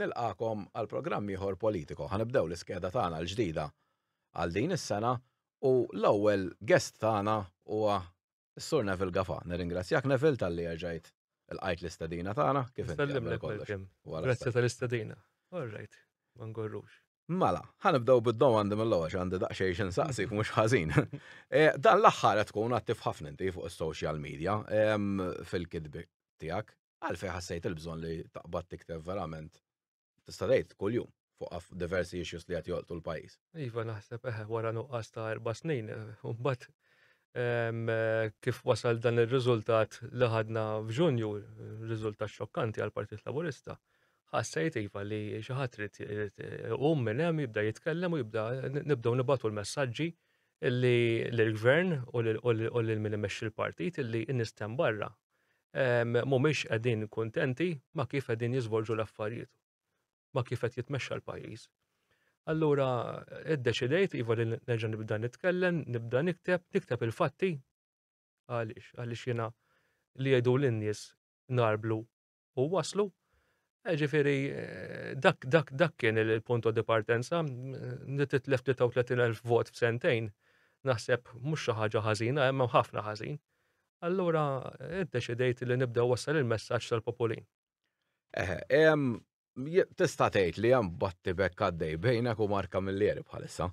Nilqagħkom għal programm ieħor Politico. Ħa nibdew l-iskeda tagħna l-ġdida għal din is-sena u l-ewwel guest tagħna huwa s-Sur Neville Gafà. Nirringrazzjak Neville talli erġajt ilqajt l-istedina tagħna. Kif inti għamel kollox? Grazzi tal-istedina. All right, ma ngorrux. Mela, ħa nibdew bid-domandi mill-ewwel għandi daqsxejn xi nsaqsik mhux ħażin. Eh, dan l-aħħar qed tkun attiv ħafna inti fuq is-social media fil-kitbi tiegħek. Għalfejn ħassejt il-bżonn li taqbad tikteb verament tista' tgħid kuljum fuq diversi issues li qed jolqtu l-pajjiż. Iva naħseb eħe wara nuqqas ta' erba' snin, mbagħad ehm, kif wasal dan ir-riżultat li ħadna f'Ġunju, riżultat xokkanti għall-Partit Laburista, ħassejt iva li xi ħadd irid iqum minn hemm jibda jitkellem u jibda nibdew nibatu l-messaġġi li l-gvern u l-min imexxi l-partit li n-nistem barra mhumiex qegħdin kuntenti ma' kif qegħdin jiżvolġu l-affarijiet, ma' kif qed jitmexxa l-pajjiż. Allura iddeċidejt iva li nerġa' nibda nitkellem, nibda nikteb, nikteb il-fatti għaliex għaliex jiena li jgħidu lin-nies narblu u waslu. Eh, ġifiri, eh, dak, dak, dak kien il-punto di partenza, li titlef 33.000 vot f'sentejn, naħseb mhux xi ħaġa ħażina, hemm ħafna ħażin. Allura, iddeċidejt li nibda wassal il-messaġġ tal-populin. Tista' tgħid li hemm batti bekk għaddej bejnek u Marka Millieri bħalissa.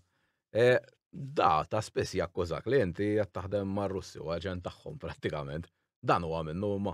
Eh, da ta' spiss jakkużak li inti qed taħdem mar-Russi u aġent tagħhom prattikament. Dan huwa minnu ma.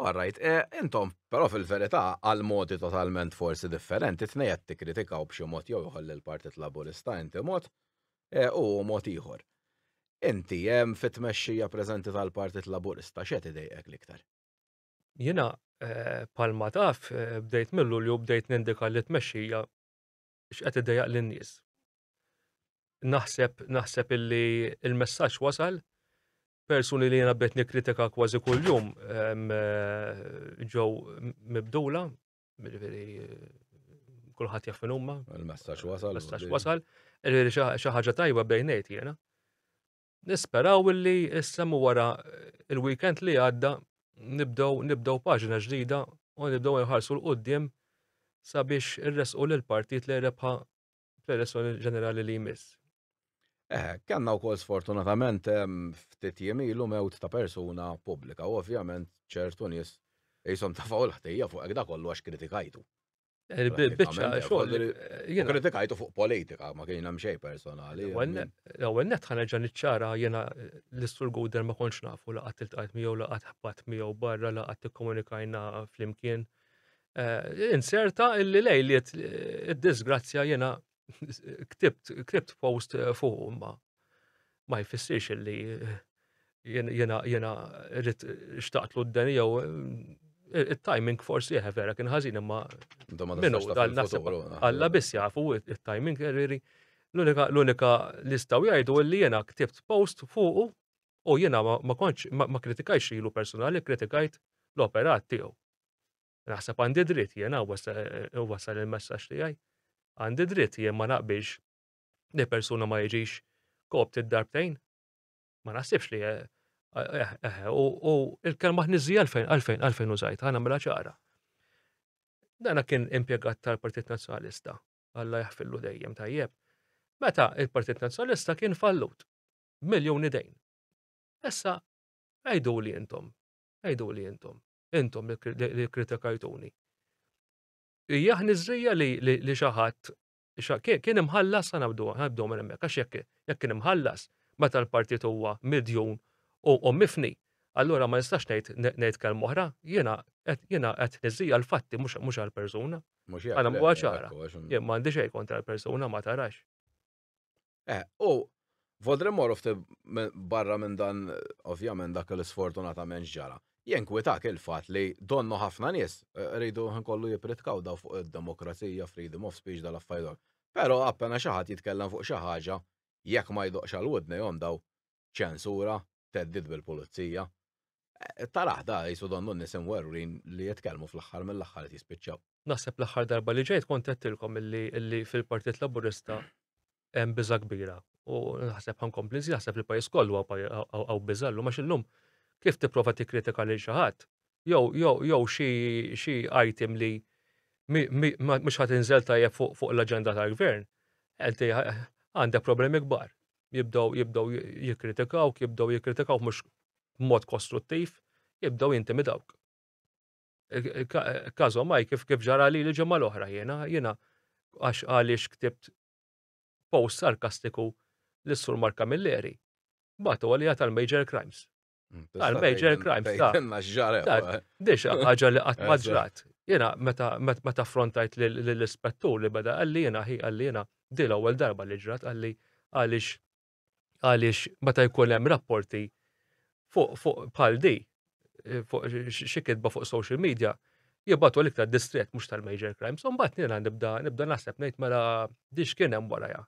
All right, eh, intom, però fil-verità għal modi totalment forsi differenti tnej qed tikkritikaw b'xi mod jew ieħor lill-Partit Laburista inti mod eh, u mod ieħor. Inti hemm eh, fit-tmexxija preżenti tal-Partit Laburista x'qed idejqek l-iktar? Jiena palma taf bdejt mill-Lulju bdejt nindika li tmexxija x'qed idejjaq lin-nies. Naħseb naħseb illi il-messaġġ wasal persuni li jiena bdejt nikkritika kważi kuljum ġew mibdula, jiġifieri, kulħadd jaf min huma. Il-messaġġ wasal. Il-messaġġ wasal. Xi ħaġa tajba bdejt ngħid jiena. Nisperaw illi issa mu wara il-weekend li għadda nibdew nibdew paġna ġdida u nibdew nħarsu l-qudiem sabiex irresqu lil partit li rebħa fl-elezzjoni ġenerali li jmiss. Eh, kellna wkoll sfortunatament ftit jiem ilu mewt ta' persuna pubblika u ovvjament ċertu nies qishom tafgħu l-ħtejja fuq hekk da kollu għax kritikajtu. Il-bicċa xogħol. Jien kritikajtu fuq politika, ma kien hemm xejn personali. L-ewwel net ħanerġa' niċċara jiena l-Istur Guder ma kontx nafu laqgħat iltqajt miegħu laqgħat ħabat miegħu barra laqgħat tikkomunikajna flimkien. Eh, inserta illi lejliet id-disgrazzja jiena ktibt, ktibt post eh, fuq ma ma jfissirx li eh, jena jena rrit xtaqt l d jew eh, il-timing forsi jħe vera kien ħażin imma minnu dal-nasib għalla biss jafu il-timing rriri l-unika listaw jgħidu li jena ktibt post fuq u jena ma konċ ma kritikajx ilu personali kritikajt l-operat tiegħu. Naħseb għandi dritt jiena wasal il-messaġġ tiegħi. Għandi dritt jien ma naqbilx li persuna ma jiġix kopt id-darbtejn. Ma naħsibx li eh, eh, eh, u il-kelma ħniżija għalfejn għalfejn għalfejn użajt għana mela ċara. Dana kien impjegat tal-Partit Nazzjonalista, Alla jaħfillu dejjem tajjeb. Meta il-Partit Nazzjonalista kien fallut, miljoni dejn. Issa, għajdu li jintom, għajdu li jintom. intom li kritikajtuni. Hija ħniżrija li li xi ħadd kien imħallas sa nabdu nabdu minn hemmhekk għax jekk jekk kien imħallas meta l-partit huwa midjun u mifni allura ma nistax ngħid ngħid kelma oħra, jiena qed jiena qed niżija l-fatti mhux mhux għall-persuna. Mhux Għana mhuwa ċara. Jien m'għandi xejn kontra l-persuna ma tarax. Eh, u Vodre Morov barra minn dan, ovvjament, dak l-sfortunatament ġara. Jenkwitak il-fat li donnu ħafna nies eh, rridu nkollu jipritkaw daw fuq id-demokrazija, freedom of speech, dal-affajdu. Pero appena xaħat jitkellem fuq xaħġa, jekk ma jdoqx għal-wudne jom daw, ċensura, theddid bil-pulizija. Eh, Taraħ da jisu donnu nisim werrin li jitkellmu fl-aħħar mill-aħħar qed jispiċċaw. Naħseb l-aħħar darba li ġejt kont għedtilkom illi, illi fil-Partit Laburista hemm biża kbira. U naħseb ħankompli nżid naħseb li pajjiż kollu għaw biża llum għax illum kif tipprova tikkritika lil xi ħadd jew jew jew xi xi item li mhux ħadd inżel tajjeb fuq fuq l-aġenda tal-gvern, għandek problemi kbar. jibdew jibdew jikkritikawk, jibdew jikkritikawk mhux b'mod kostruttiv, jibdew jintimidawk. Każhom maj kif kif ġara li l-ġimgħa l-oħra jiena jiena għax għaliex ktibt post sarkastiku lis-Sur Mark Camilleri, bagħtu għalija tal-Major Crimes. Mm, Għal major crime. Fejtenna ġara. Dixa, ħagġa li għat maġrat. Jena, meta frontajt l-ispettur li bada għalli jena, hi għalli jena, dil ewwel darba li ġrat għalli għalix għalix meta jkun hemm rapporti fuq fuq bħal di eh, fuq xi kitba fuq social media jibatu l ta' distret mhux tal-major crimes. Imbagħad nina nibda nibda naħseb ngħid mela dix kien hemm warajha.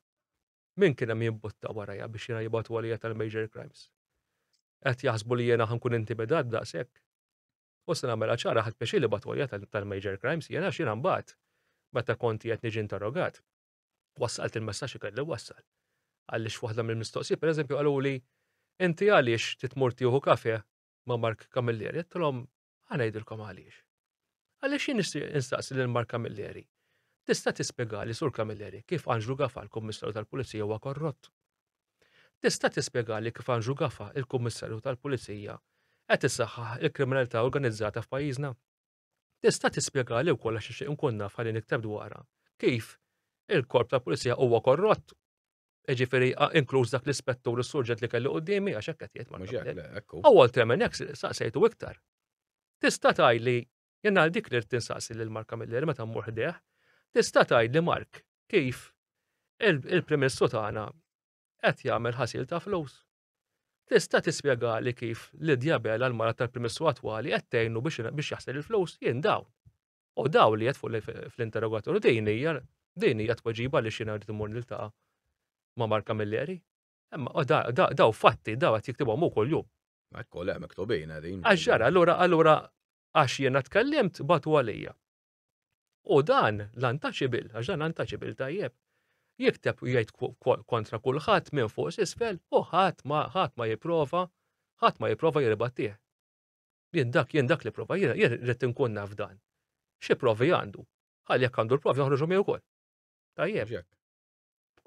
Min kien hemm jimbutta warajja biex jiena jibgħatu għalija tal-major crimes? Qed jaħsbu li jiena ħankun intimidat daqshekk? U se nagħmilha ċara ħadt pjaċir li jibgħatu għalija tal-major crimes jiena għax jiena mbagħad meta kont qiegħed niġi interrogat wassalt il-messaġġ li kelli wassal. Għaliex f'waħda mill-mistoqsijiet pereżempju qaluli inti għaliex titmur tieħu kafe ma' Mark Camilleri, għedtilhom Ħa ngħidilkom għaliex. Għaliex jien nixtieq instaqsi lil Mark Camilleri. Tista' tispjegali Sur Camilleri kif Anġlu Gafa l-Kummissarju tal-Pulizija huwa korrott? Tista' tispjegali kif Anġlu Gafa il-Kummissarju tal-Pulizija qed isaħħaħ il-kriminalità organizzata f'pajjiżna? Tista' tispjegali wkoll għax nixtieq nkun naf ħalli nikteb dwarha kif il-korp tal-pulizija huwa korrott Ġifiri, inkluż dak l-ispettur s-surġet li kellu qoddimi, għax hekk qed jgħid ma nafx. U Walter Menex saqsejtu iktar. Tista' tgħid li jien għal dik li rrid tinsaqsi lil Mark Camilleri meta mmur ħdejh, tista' tgħid li Mark kif il-Prim Ministru tagħna qed jagħmel ħasil ta' flus. Tista' tispjegali kif Lydia Bela l-mara tal-Prim Ministru attwali qed tgħinu biex jaħsel il-flus? Jien dawn. U dawn li qed fuq fl-interrogatorju din hija din hija tweġiba li xina rrid imur niltaqa' ma' Mark Camilleri. Imma daw fatti daw qed jiktibhom hu kuljum. Ekku le miktubin qegħdin. Għax ġara allura allura għax jiena tkellimt batu għalija. U dan l-untouchable, għax dan untouchable tajjeb, jikteb u jgħid kontra kulħadd minn fuq s'isfel u ħadd ma ħadd ma jipprova, ħadd ma jipprova jirbattih. Jien dak jien dak li prova, jien rrid inkun naf dan. Xi provi għandu? Ħalli jekk għandu l-provi joħroġhom ukoll. Tajjeb.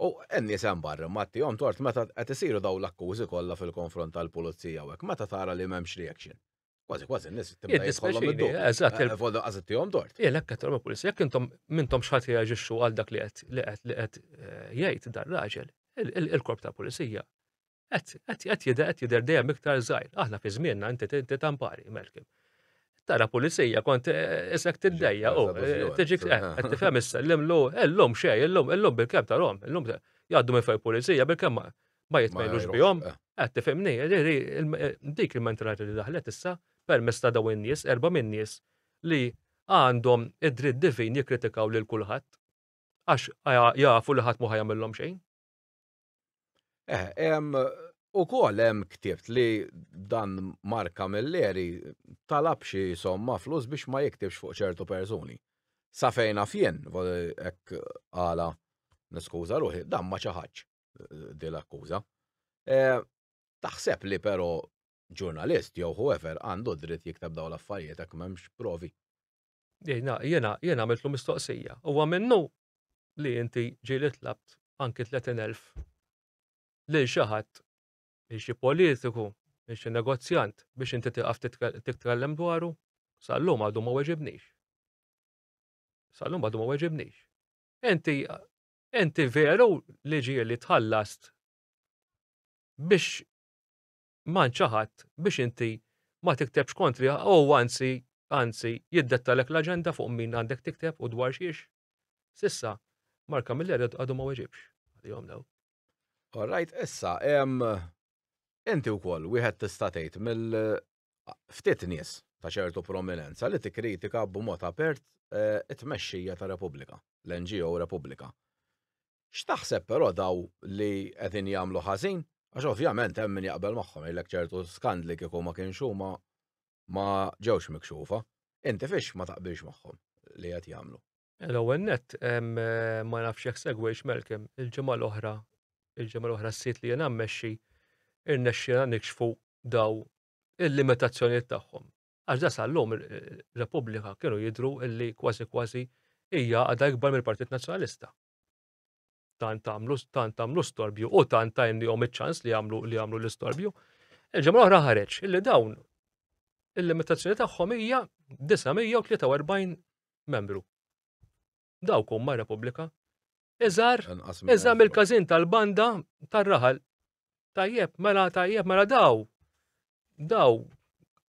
U n-nies hemm barra ma tihom tort meta qed isiru dawn l-akkużi kollha fil-konfront tal-pulizija u hekk meta tara li m'hemmx reaction. Kważi kważi n-nies tibda jkollhom id Eżatt. Eh, Volda qas tihom tort. Jien hekk qed pulizija, jekk intom mintom x'ħadd reaġixxu għal dak li qed li qed li qed eh, jgħid dar-raġel, il-korp tal-pulizija Qed jidher qed jidher dejjem iktar żgħir. Aħna fi żmienna inti inti tampari, Malcolm. Tara pulizija kont eh, isek tiddejja u eh, tiġik eh, qed tifhem issa l-imlu illum xejn, illum illum bil-kemm tarhom, illum jgħaddu minn fejn pulizija bil-kemm ma jitmejlux bihom. Qed tifhimni, dik il-mentalità li daħlet issa permess ta' dawn in-nies, erba' minn nies li għandhom id-dritt divin jikkritikaw lil kulħadd għax jafu li ħadd ma jagħmilhom xejn. Eh, em, u kol hemm ktibt li dan Mark Camilleri talab xi somma flus biex ma jiktibx fuq ċertu persuni. Sa fejna fjen, ek għala niskuża ruħi, dan ma ċaħaċ eh, dil akkuża eh, Taħseb li pero ġurnalist jew whoever għandu dritt jiktab daw l-affarijiet hekk m'hemmx provi. Jiena, jiena, jiena għamiltlu mistoqsija. Huwa minnu li inti ġieli tlabt anki 30,000 lil xi ħadd, lil xi politiku, lil xi negozjant biex inti tiqaf titkellem dwaru? Sallum għadu ma weġibnix. Sallum għadu ma weġibnix. Inti, inti veru li ġieli tħallast biex mgħand xi ħadd biex inti ma tiktebx kontriha u huwa anzi anzi jiddettalek l-aġenda fuq min għandek tikteb u dwar xiex? S'issa, Mark Camilleri għadu ma weġibx għalihom dawn. All right, issa, inti wkoll wieħed tista' tgħid mill ftit nies ta' ċertu prominenza li tikkritika b'mod apert eh, it-tmexxija ta' Repubblika, l-NGO Repubblika. X'taħseb però daw li qegħdin jagħmlu ħażin? Għax ovvjament hemm min jaqbel magħhom jgħidlek ċertu skandli kieku ma kienx huma ma ġewx mikxufa. Inti fiex ma taqbilx magħhom li qed jagħmlu? L-ewwel nett, ma nafx jekk segwejtx Malcolm, il-ġimgħa l-oħra, il-ġimgħa l-oħra s-sit li jiena mmexxi, irnexxielna nikxfu daw il-limitazzjonijiet tagħhom. Għax da sal-lum Repubblika kienu jidhru illi kważi kważi hija għadha ikbar mill-Partit Nazzjonalista. tant għamlu tant għamlu storbju u tant tajnihom iċ-ċans li għamlu li għamlu l-istorbju. Il-ġemra oħra ħareġ illi dawn il-limitazzjoni tagħhom hija 943 membru. Dawk huma Repubblika. Iżar, iżar mill-każin tal-banda tar-raħal. Tajjeb, mela tajjeb, mela daw. Daw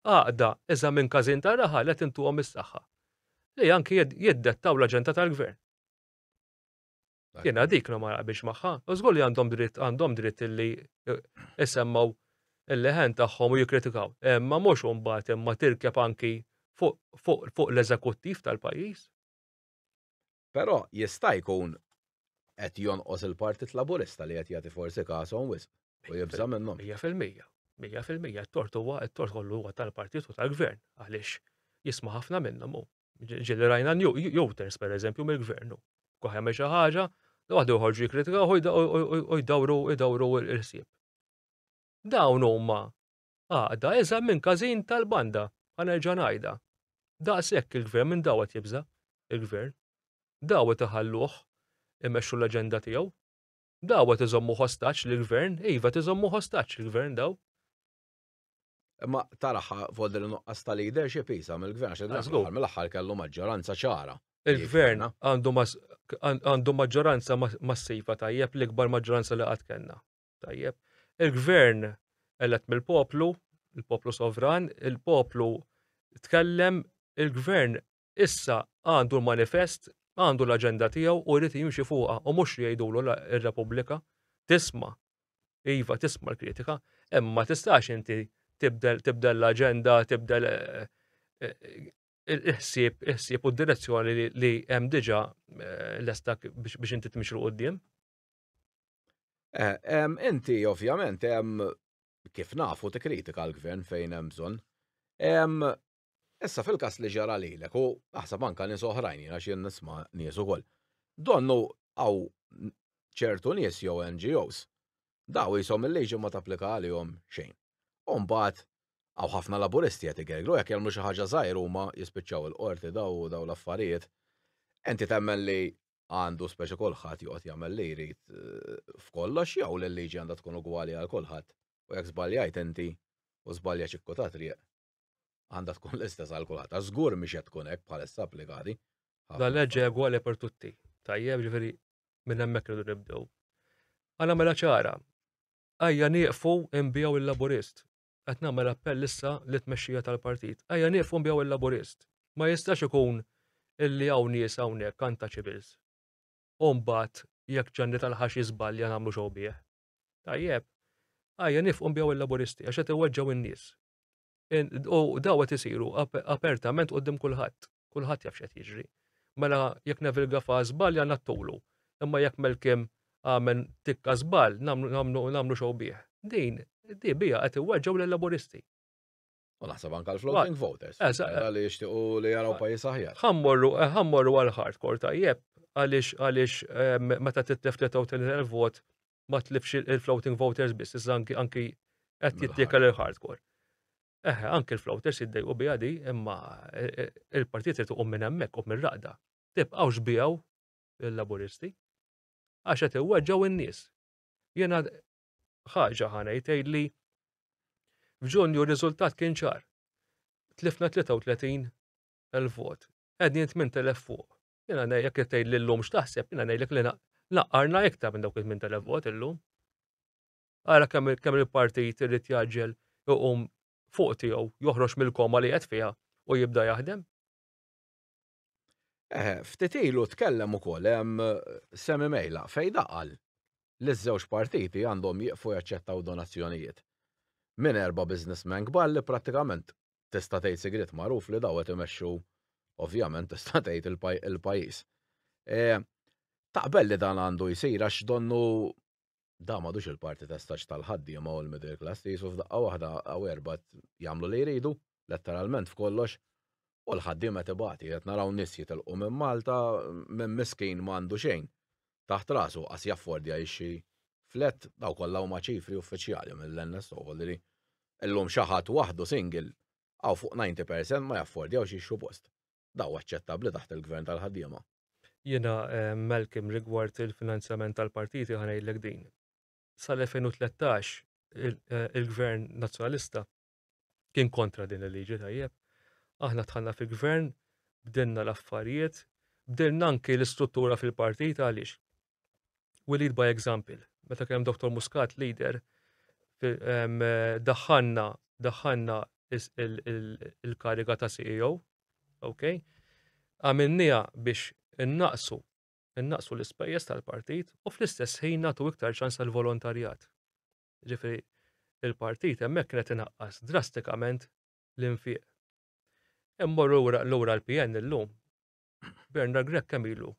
għaqda iżar minn każin tar-raħal qed intuhom is-saħħa. Li anki jiddettaw l-aġenda tal-gvern. Jena dik no maraq biex maħħa. Użgur li għandhom dritt, għandhom dritt li jisemmaw eh, il-leħen tagħhom u jikritikaw. Eh, ma mhux imbagħad imma tirkeb anki fuq l-eżekuttiv tal-pajjiż. Però jista' jkun qed jonqos il-Partit Laburista li qed jagħti forsi kasom wisq u jibża' minnhom. Mija fil-mija. Mija fil-mija t-tort huwa t-tort kollu huwa tal-partit u tal-gvern għaliex jisma' ħafna minnhom hu. Ġili rajna n-juters, per eżempju, mill-gvernu. Kuħja me ħaġa, waħdu joħorġu jikritika u jdawru jdawru l-ħsieb. Dawn huma għaqda iżgħar minn każin tal-banda, ħanerġa' ngħidha. Daqshekk il-gvern minn daw qed jibża' il-gvern. Daw qed iħalluh imexxu l-aġenda tiegħu. Daw qed iżommu ħostaġġ lill-gvern, iva tiżommu ħostaġġ il-gvern daw. Imma taraħa volder nuqqas ta' leadership isa mill-gvern għax id-għazgur mill-aħħar kellu maġġoranza ċara. Il-gvern għandu maġġoranza massiva tajjeb l-ikbar maġġoranza li qatt kellna. Tajjeb. Il-gvern elett mill-poplu, il-poplu sovran, il-poplu tkellem il-gvern Issa għandu l-manifest, għandu l-aġenda tiegħu u jrid jimxi fuqha u mhux li jgħidulu la r-Repubblika tisma', iva tisma' l-kritika, imma ma tistax inti tibdel tibdel l-aġenda, tibdel il-ħsieb il-ħsieb u d-direzzjoni li hemm diġà lesta biex inti tmixi l quddiem. Inti ovvjament hemm kif nafu tikkritika l-gvern fejn hemm bżonn. Issa fil-każ li ġara lilek u naħseb anke nies oħrajn għax jien nisma' nies ukoll, donnu hawn ċertu nies jew NGOs daw qishom il-liġi ma tapplika għalihom xejn. U mbagħad hawn ħafna Laburisti qed igergru jekk jagħmlu xi ħaġa żgħir huma jispiċċaw il-Qorti daw u dawn l-affarijiet. Inti temmen li għandu speċi kulħadd joqgħod jagħmel li jrid f'kollox jew li l-liġi għandha tkun ugwali għal kulħadd u jekk żbaljajt inti u żbalja ċikku tat-triq għandha tkun l-istess għal kulħadd. Għax żgur mhix qed tkun hekk bħalissa applikati. La leġġi egwali per tutti. Tajjeb ġifieri minn hemmhekk irridu nibdew. Għana mela ċara, għajja nieqfu imbijaw il-laburist. Qed nagħmel appell issa li tmexxija tal-partit. Għajja nieqfu imbijaw il-laburist. Ma jistax ikun illi hawn nies hawnhekk kanta ċibils. Umbat jekk ġanni tal-ħax jiżbalja nagħmlu xogħol bih. Tajjeb, għajja nifqu imbijaw il-laburisti għax qed iweġġgħu in-nies. U daw qed isiru apertament qudiem kulħadd. Kulħadd jaf x'qed jiġri. Mela jekk Neville Gafa żball ja nattulu. Imma jekk Melkim għamel tikka żball nagħmlu xogħol bih. Din di biha qed iweġġgħu lil-Laburisti. U naħseb anke l-floating voters. Eżatt. Li jixtiequ li jaraw pajjiż aħjar. Ħammorru eh, ħammorru għal hardcore tajjeb għaliex għaliex eh, meta titlef 33,000 vot ma tlifx il-floating voters biss, iżda anki qed jittiekel il-hardcore. Eħe, anki l-floaters jiddejqu biha di, imma e, e, il-partit irid iqum minn hemmhekk u mir-raqda. Tibqgħux bijaw il-Laburisti għax qed iweġġgħu n-nies. Jiena ħaġa ħanejt li f'Ġunju r-riżultat kien ċar. Tlifna 33 il-vot, qegħdin 8000 fuq. Jena nejlek li tgħid li llum x'taħseb, jena nejlek li naqqarna iktar minn dawk iż-żmien tal-vot illum. Ara kemm kemm il-partit irid jaġġel iqum fuq tiegħu joħroġ mill-koma li qed fiha u jibda jaħdem. Eh, ftit ilu tkellem ukoll hemm Semi Mejla fejn daqal li ż-żewġ partiti għandhom jieqfu jaċċettaw donazzjonijiet minn erba' businessmen kbar li prattikament tista' tgħid sigriet magħruf li daw qed imexxu ovvjament tista' tgħid il-pajjiż. E, taqbel li dan għandu jsir għax donnu da madux il-parti ta' staġ tal-ħaddiema u l-middle class li jisu f'daqqa waħda għaw erba jagħmlu li jridu, letteralment f'kollox, u l-ħaddiema tibati, qed naraw nies jitilqu minn Malta minn miskin m'għandu xejn. taħt rasu qas jaffordja jixtri flat, dawn kollha huma ċifri uffiċjali mill-NSO li llum xi ħadd waħdu single hawn fuq 90 percent ma jaffordjawx jixtru post. Dawn aċċettabbli taħt il-Gvern tal-ħaddiema? Jiena Malcolm rigward il-finanzjament tal-partiti ħa ngħidlek din. Sal-2013 il-Gvern Nazzjonalista kien kontra din il-liġi tajjeb. Aħna tħanna fi gvern, bdilna l-affarijiet, bdilna anki l-istruttura fil-partit għaliex. We lead by example. Meta kien Dr. Muscat leader, daħħanna daħħanna il-kariga ta' CEO, ok? Għamilnija biex innaqsu innaqsu l-ispejjeż tal-partit u fl-istess ħin nagħtu iktar ċans tal-volontarjat. Ġifieri il-partit hemmhekk kien qed inaqqas drastikament l-infiq. Immorru lura l-PN illum. Bernard Grech kemm ilu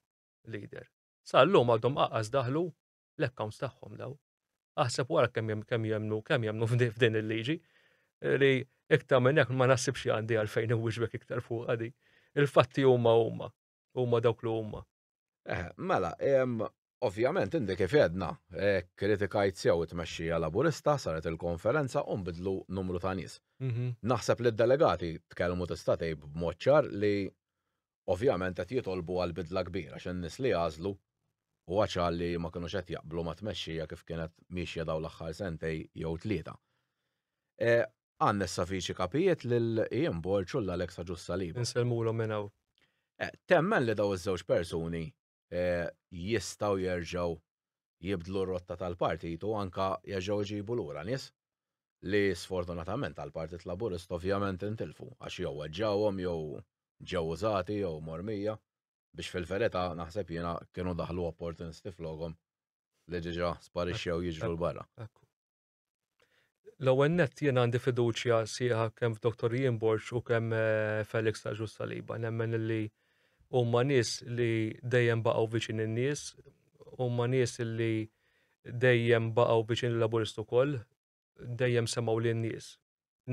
leader? Sa llum għadhom qaqas daħlu l-accounts tagħhom daw. Aħseb wara kemm kemm jemmnu kemm jemmnu f'din il-liġi li iktar minn hekk ma naħsibx li għandi għalfejn inwiġbek iktar fuqha di. Il-fatti huma huma. huma dawk li huma. Eh, mela, ovvjament indi kif edna, eh, kritikajt sew it-tmexxija Laburista saret il-konferenza u nbidlu numru ta' nies. Mhm. Naħseb li d-delegati tkellmu tista' tgħid b'mod ċar li ovvjament qed jitolbu għal bidla kbira x'in nies li għażlu u għaċal li ma kinux qed jaqblu ma' tmexxija kif kienet miexja daw l-aħħar sentej jew tlieta. Eh, Anne Savici Kapijiet lil Ian Borg u l-Alex Agius Saliba. Insellmulhom minn hawn. Temmen li dawn iż-żewġ persuni jistgħu jerġgħu jibdlu r-rotta tal-partit u anke jerġgħu jġibu lura nies li sfortunatament għall-Partit Laburista ovvjament intilfu għax jew weġġgħuhom jew ġew użati jew mormija biex fil-verità naħseb jiena kienu daħlu opportunisti flokhom li diġà sparixxew jiġru 'l barra. L-ewwel nett jien għandi fiduċja sieħa kemm f'Dr. Ian Borg u kemm eh, Felix ta' Ġus Saliba. Nemmen li huma nies li dejjem baqgħu viċin in-nies, huma nies li dejjem baqgħu viċin il-Laburist ukoll, dejjem semgħu lin-nies.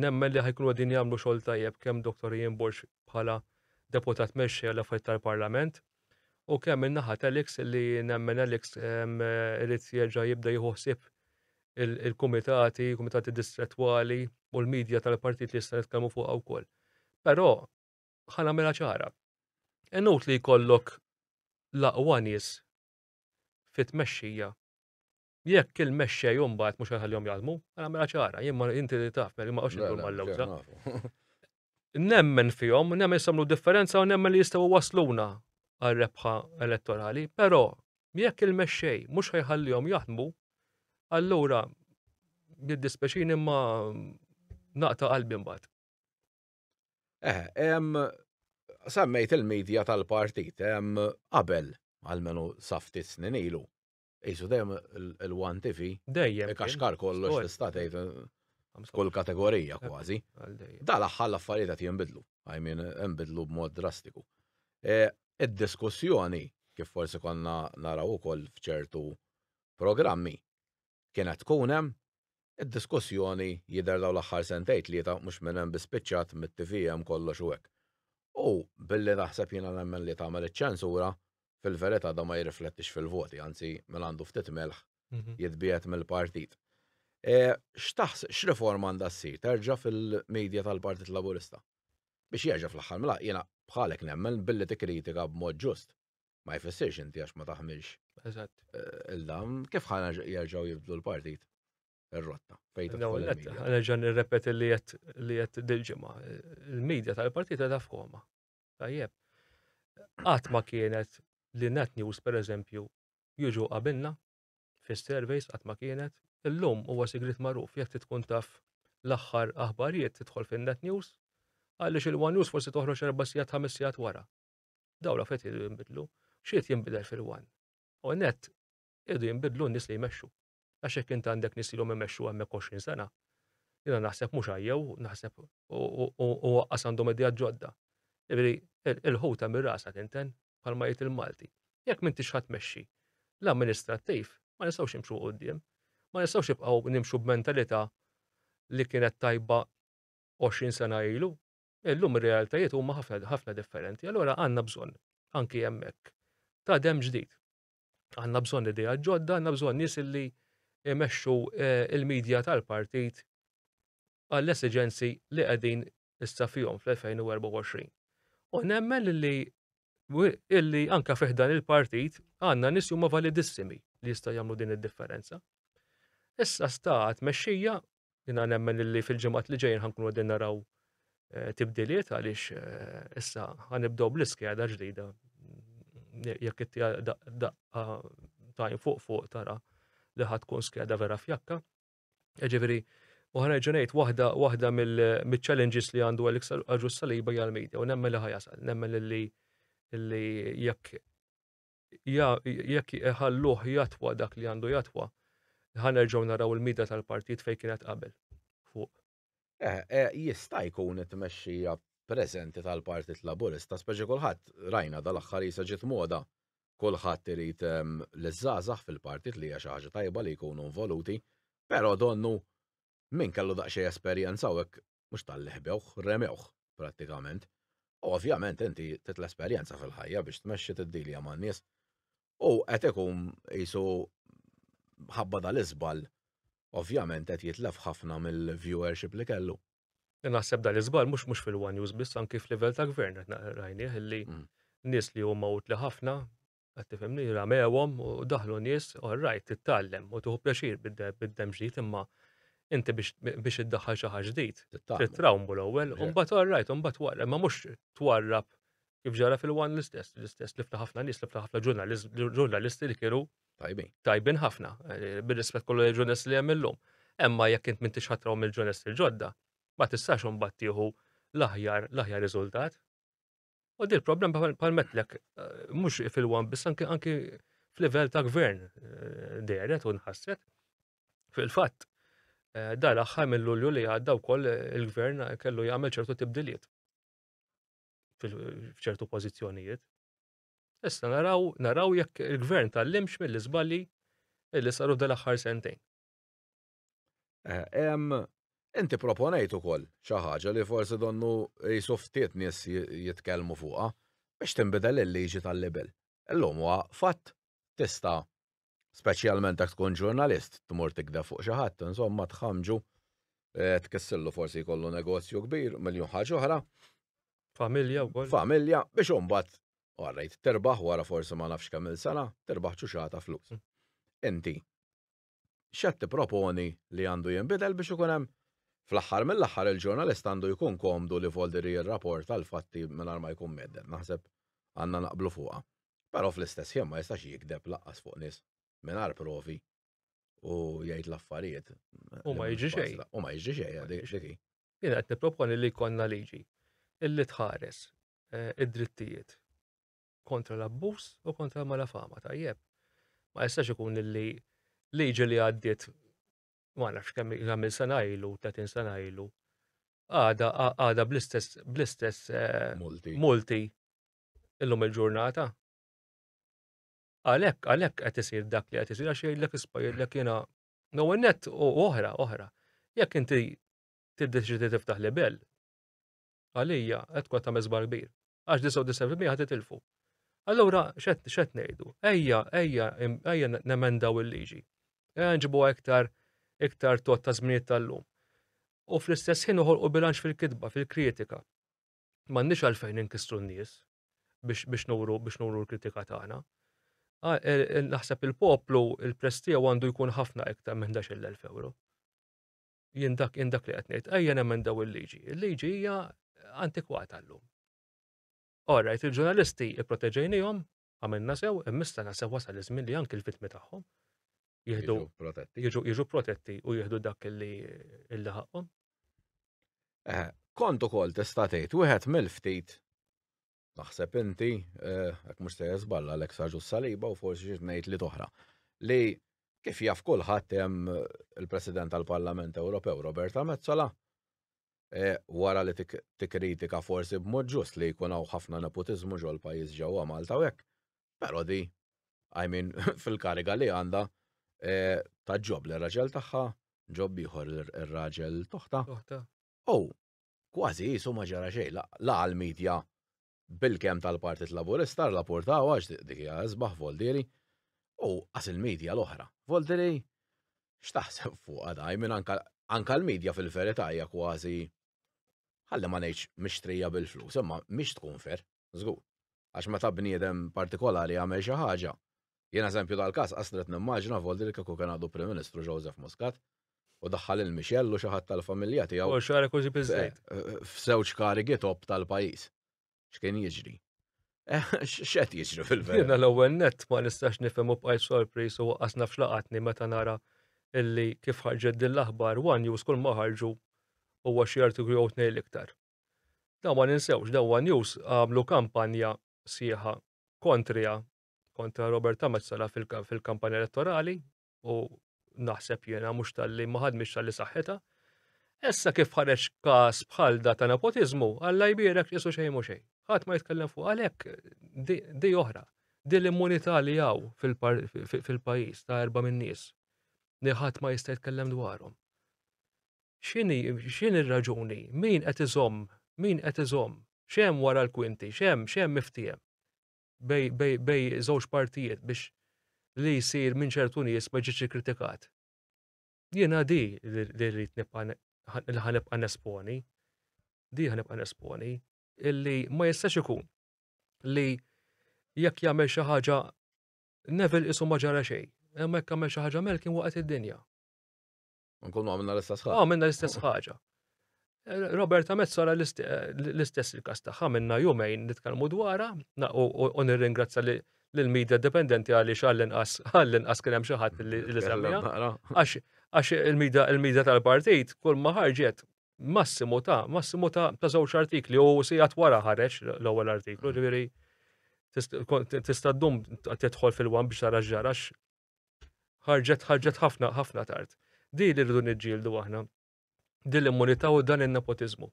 nemmen li ħajkunu għadin jagħmlu xogħol tajjeb kemm Dr. Ian Borg bħala deputat mexxej għal affarijiet tal-Parlament u kemm in-naħa tal-Ix li nemmen Alex irid jerġa' jibda jieħu ħsieb il-kumitati, kumitati distrettwali u l-medja tal-partit li jista' nitkellmu fuqha wkoll. Però ħana mela ċara. Inut li jkollok laqwa nies fit-tmexxija Jekk il-mexxej u mbagħad mhux ħallihom jaħdmu, għal mela ċara, jien ma inti li taf, mela ma qosx indur mal-lewża. Nemmen fihom, nemmen samlu differenza u nemmen li jistgħu wasluna għal rebħa elettorali, però jekk il-mexxej mhux ħajħallihom jaħdmu, allura jiddispeċin imma naqta qalbi mbagħad. Eh, semmejt il-medja tal-partit, qabel għalmenu safti snin ilu, Isu dejjem il-one tifi. Dejjem. Kaxkar kollox tista' tgħid kull kategorija kważi. Dal aħħar l-affarijiet qed jinbidlu. I mean, jinbidlu b'mod drastiku. E, id-diskussjoni kif forsi konna naraw ukoll f'ċertu programmi kienet tkun hemm Id-diskussjoni jidher dawn l-aħħar sentej tlieta mhux minn hemm bi spiċċat mit-TV hemm kollox u hekk. U billi naħseb jiena nemmen li tagħmel iċ-ċensura, fil-verità dan ma jirriflettix fil-voti, anzi min għandu ftit milħ jitbiegħed mill-partit. X'taħseb, x'riforma għandha ssir terġa' fil-media tal-Partit Laburista? Biex jerġa' fl-aħħar mill-aħħar, jiena bħalek nemmen billi tikkritika b'mod ġust, ma jfissirx inti għax ma taħmilx. Eżatt. Eh, Il-dam, kif ħana jarġaw jibdlu l-partit? Ir-rotta. Fejta. Għanġan nirrepet li jett li jett dil-ġimma. Il-medja tal-partita ta' foma. Tajjeb. Għat ma kienet li net news per eżempju juġu qabilna fis-surveys għat ma kienet. Illum huwa sigrit magħruf jekk tkun taf l-aħħar aħbarijiet tidħol fin-net news għaliex il-one news forsi toħroġ erba' sigħat ħames sigħat wara. Daw l-affet jridu jimbidlu, xiet jimbidel fil-wan. U net, jridu jimbidlu n-nis li jmexxu. Għax jekk int għandek nis li l-om jmexxu għemmek 20 sena, jina naħseb mux għajjew, naħseb u għaqqas għandhom idea ġodda. Ġviri, il-ħuta mir rasa tinten, palma jgħid il-Malti. Jekk minn tix ħat meċxi, l-amministrattiv, ma nistawx nimxu għoddim, ma nistawx jibqaw nimxu b'mentalita li kienet tajba 20 sena ilu, Illum ir-realtajiet huma ħafna ħafna differenti, allura għandna bżonn anki hemmhekk ta' dem ġdid. Għandna bżonn idea ġodda, għandna bżonn nies illi jmexxu eh, il-medja tal-partit għall-esiġenzi li qegħdin issa fihom fl-2024. U nemmen li illi anka fiħdan il-partit għanna nis huma validissimi li jista' jagħmlu din id-differenza. Issa sta mexxija Jina nemmen li fil-ġimgħat li ġejjin ħankunu qegħdin naraw eh, tibdiliet għaliex eh, issa ħanibdew bl-iskeda ġdida. Jekk it daqqa tajn fuq fuq tara li ħad tkun skeda vera fjakka. Ġifieri, u ħanerġa' ngħid waħda waħda mill-challenges li għandu Alex Aġus Saliba hija l-media u nemmen li ħajasal, nemmen li li jekk jekk iħalluh jatwa dak li għandu jatwa, ħanerġgħu naraw il-mida tal-partit fejn kienet qabel, fuq. Eh, eh, jista' jkun it-tmexxija preżenti tal-Partit Laburista, speċi kulħadd rajna dal-aħħar jisa ġiet moda kulħadd irid ehm, l-żgħażagħ fil-partit li hija xi ħaġa tajba li jkunu involuti, però donnu min kellu daqsxejn esperjenza u hekk mhux talli ħbewh, remewh prattikament. U ovvjament inti titla' esperjenza fil-ħajja biex tmexxi tiddilja man-nies. U qed ikun qisu ħabba dal-iżball ovvjament qed jitlef ħafna mill-viewership li kellu. Naħseb dan l-iżball mhux mhux fil-one news biss anki f'livell ta' gvern qed rajnieh illi mm. nies li huma utli ħafna Qed tifhimni ramewhom u daħlu nies, all right, tittallem u tuħu pjaċir bid-dem ġdid imma inti biex iddaħħal xi ħaġa ġdid. Titrawmu l-ewwel, u mbagħad all right, u mbagħad wara, ma mhux twarrab kif ġara fil-wan l-istess, l-istess lifna ħafna nies, lifna ħafna ġurnalisti li kienu tajbin. Tajbin ħafna, eh, bir-rispett kollu ġurnalisti li hemm illum. Emma jekk int m'intix ħatraw mill-ġurnalisti l-ġodda, ma tistax imbagħad tieħu l-aħjar l-aħjar riżultat. U dil problem palmetlek, eh, mux fil-wan bis anki anki fil-level ta' gvern eh, deret u nħasset. Fil-fat, eh, dar aħħar mill-lulju li għadda u koll il-gvern kellu jgħamil ċertu tibdiliet fil-ċertu pozizjonijiet. Issa naraw, naraw jekk il-gvern tal-limx mill-izballi illi saru dal-aħħar sentejn. Inti proponejt ukoll xi ħaġa li forsi donnu qisu ftit nies jitkellmu fuqha biex tinbidel il-liġi tal-libel. Illum huwa fatt tista' speċjalment jekk tkun ġurnalist tmur tikdeb fuq xi ħadd, insomma tħammġu, tkissirlu forsi jkollu negozju kbir, miljun ħaġa oħra. Familja wkoll. Familja biex imbagħad orrejt terbaħ wara forsi ma nafx kemm-il sena, terbaħ ċuċata flus. Inti x'qed tipproponi li għandu jinbidel biex ikun hemm Fl-aħħar mill-aħħar il-ġurnalist għandu jkun komdu li Volderi jirraporta l-fatti mingħajr ma jkun mhedded, naħseb għandna naqblu fuqha. Però fl-istess ħin ma jistax jigdeb lanqas fuq nies mingħajr provi u jgħid l-affarijiet. U ma jiġri xejn. U ma jiġri xejn, dik hi. Jien qed nipproponi li jkollna liġi illi tħares eh, id-drittijiet kontra l-abbuż u kontra l-malafama tajjeb. Ma jistax ikun li liġi li għaddiet ma nafx kemm jagħmel sena ilu, 30 sena ilu, għada għada bl-istess bl-istess eh, multi. multi illum il-ġurnata. Għalhekk għalhekk qed isir dak li qed isir għax jgħidlek ispa jgħidlek jiena no net u oħra oħra. Jekk inti tiddeċidi tiftaħ libell, Għalija qed tkun qed tagħmel żball kbir. Għax 99% ħad titilfu. Allura x'qed ngħidu? Ejja, ejja, ejja nemendaw il-liġi. Ejja nġibu iktar iktar tot ta' żminijiet tal-lum. U fl-istess ħin uħolqu bilanċ fil-kitba, fil-kritika. M'għandniex għalfejn inkissru n-nies biex biex nuru biex nuru l-kritika tagħna. Ah, naħseb il-poplu il-prestiju għandu jkun ħafna iktar minn 11,000 euro. Jien dak jien dak li qed ngħid, ejja nemendaw il-liġi. Il-liġi hija antikwata llum. Alright, il-ġurnalisti ipproteġejnihom, għamilna sew, immissa na sew wasal iż-żmien li anke l-vittmi tagħhom jieħdu jiġu protetti u jieħdu dak li ħaqqhom. Eh, kont ukoll tista' tgħid wieħed mill-ftit taħseb inti, għak eh, mux se jazballa l-ek sarġu saliba u forsi xiex nejt li toħra, li kif jaf kullħat jem eh, il-President tal-Parlament Ewropew Roberta Mezzola, eh, wara li tikkritika forsi b'mod ġust li jkun hawn ħafna nepotizmu ġol pajjiż ġewwa Malta u hekk. Però di, I mean, fil-kariga li għandha ta' ġob li raġel tagħha, ġob ieħor ir-raġel toħta. U kważi jisu ma ġara xejn, la għal-medja bil-kem tal-Partit Laburista la portaw għax dik hija isbaħ Voldiri, u qas il-medja l-oħra. Voldiri x'taħseb fuqha daj minn anka l-medja fil-verità hija kważi ħalli ma ngħidx mixtrija bil-flus, imma mhix tkun fer. Żgur. Għax meta bniedem partikolari jagħmel xi ħaġa, jien eżempju tal-każ qasret nimmaġina voldi li kieku kien għadu Prim Ministru Joseph Muscat u daħħal lil Michelle u xi ħadd tal-familja tiegħu. U xara kużi biżejt. F'żewġ karigi top tal-pajjiż. X'kien jiġri? Eh, x'qed jiġri fil-verità? Jiena l-ewwel nett ma nistax nifhem u bqajt sorpriż u waqqas naf xlaqatni meta nara illi kif ħarġet din l-aħbar, one news kull ma ħarġu huwa xi artiklu jew tnejn l-iktar. Dawn ma ninsewx, dawn One News għamlu kampanja sieħa kontrija, kontra Roberta Mezzala fil-kampanja elettorali u naħseb jiena mhux tal-li ma ħadmix tal-li saħħitha. Issa kif ħareġ każ bħal da ta' nepotizmu, Alla jbierek isu xejn mhux xejn. Ħadd ma jitkellem fuq għalhekk di oħra. Di l-immunità li hawn fil-pajjiż ta' erba' min-nies li ħadd ma jista' jitkellem dwarhom. X'inhi, x'inhi r-raġuni? Min qed iżomm, min qed iżomm? X'hemm wara l-kwinti? X'hemm, x'hemm miftiehem bej, bej, bej żewġ partijiet biex li jsir minn ċertu nies ma jiġix ikkritikat? Jiena di li, li rrid nibqa' li ħa nibqa' nesponi, di ħa nibqa' nesponi, illi ma jistax ikun li jekk jagħmel xi ħaġa Neville qisu ma ġara xejn, imma jekk għamel xi ħaġa Malkin waqgħet id-dinja. Nkunu għamilna l-istess ħaġa. Għamilna l-istess ħaġa. Eh, Roberta Mezzola l-istess il-kas tagħha minna jumejn nitkellmu dwarha u nirringrazzja l-medja dipendenti għaliex għall-inqas għall-inqas kien hemm xi ħadd li semmiha. Għax il-medja tal-partit kull ma ħarġet massimu ta' massimu ta' żewġ artikli u sigħat wara ħareġ l-ewwel artiklu, ġifieri tista' ddum tidħol fil-wan biex tara ġarax Ħarġet ħarġet ħafna ħafna tard. Di li rridu niġġieldu aħna. Din l-immunità u dan in-nepotiżmu.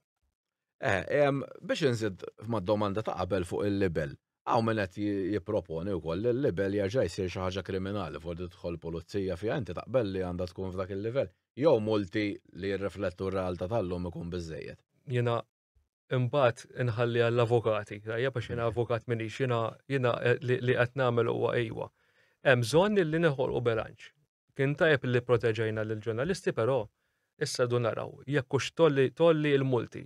Eh, biex inżid mad-domanda ta' qabel fuq il-libel. Għaw minn qed jipproponi wkoll li l-libel jerġa' jsir xi ħaġa kriminali fuq tidħol pulizija fiha inti taqbel li għandha tkun f'dak il-livell. Jew multi li jirriflettu r-realtà tal-lum ikun biżejjed. Jiena imbagħad inħalli għall-avukati, tajja biex jiena avukat minix, jiena jiena eh, li qed nagħmel huwa ejwa. Hemm bżonn li neħolqu bilanċ. Kien tajb li proteġejna lill ġurnalisti però issa du naraw jekk hux tolli tolli l-multi.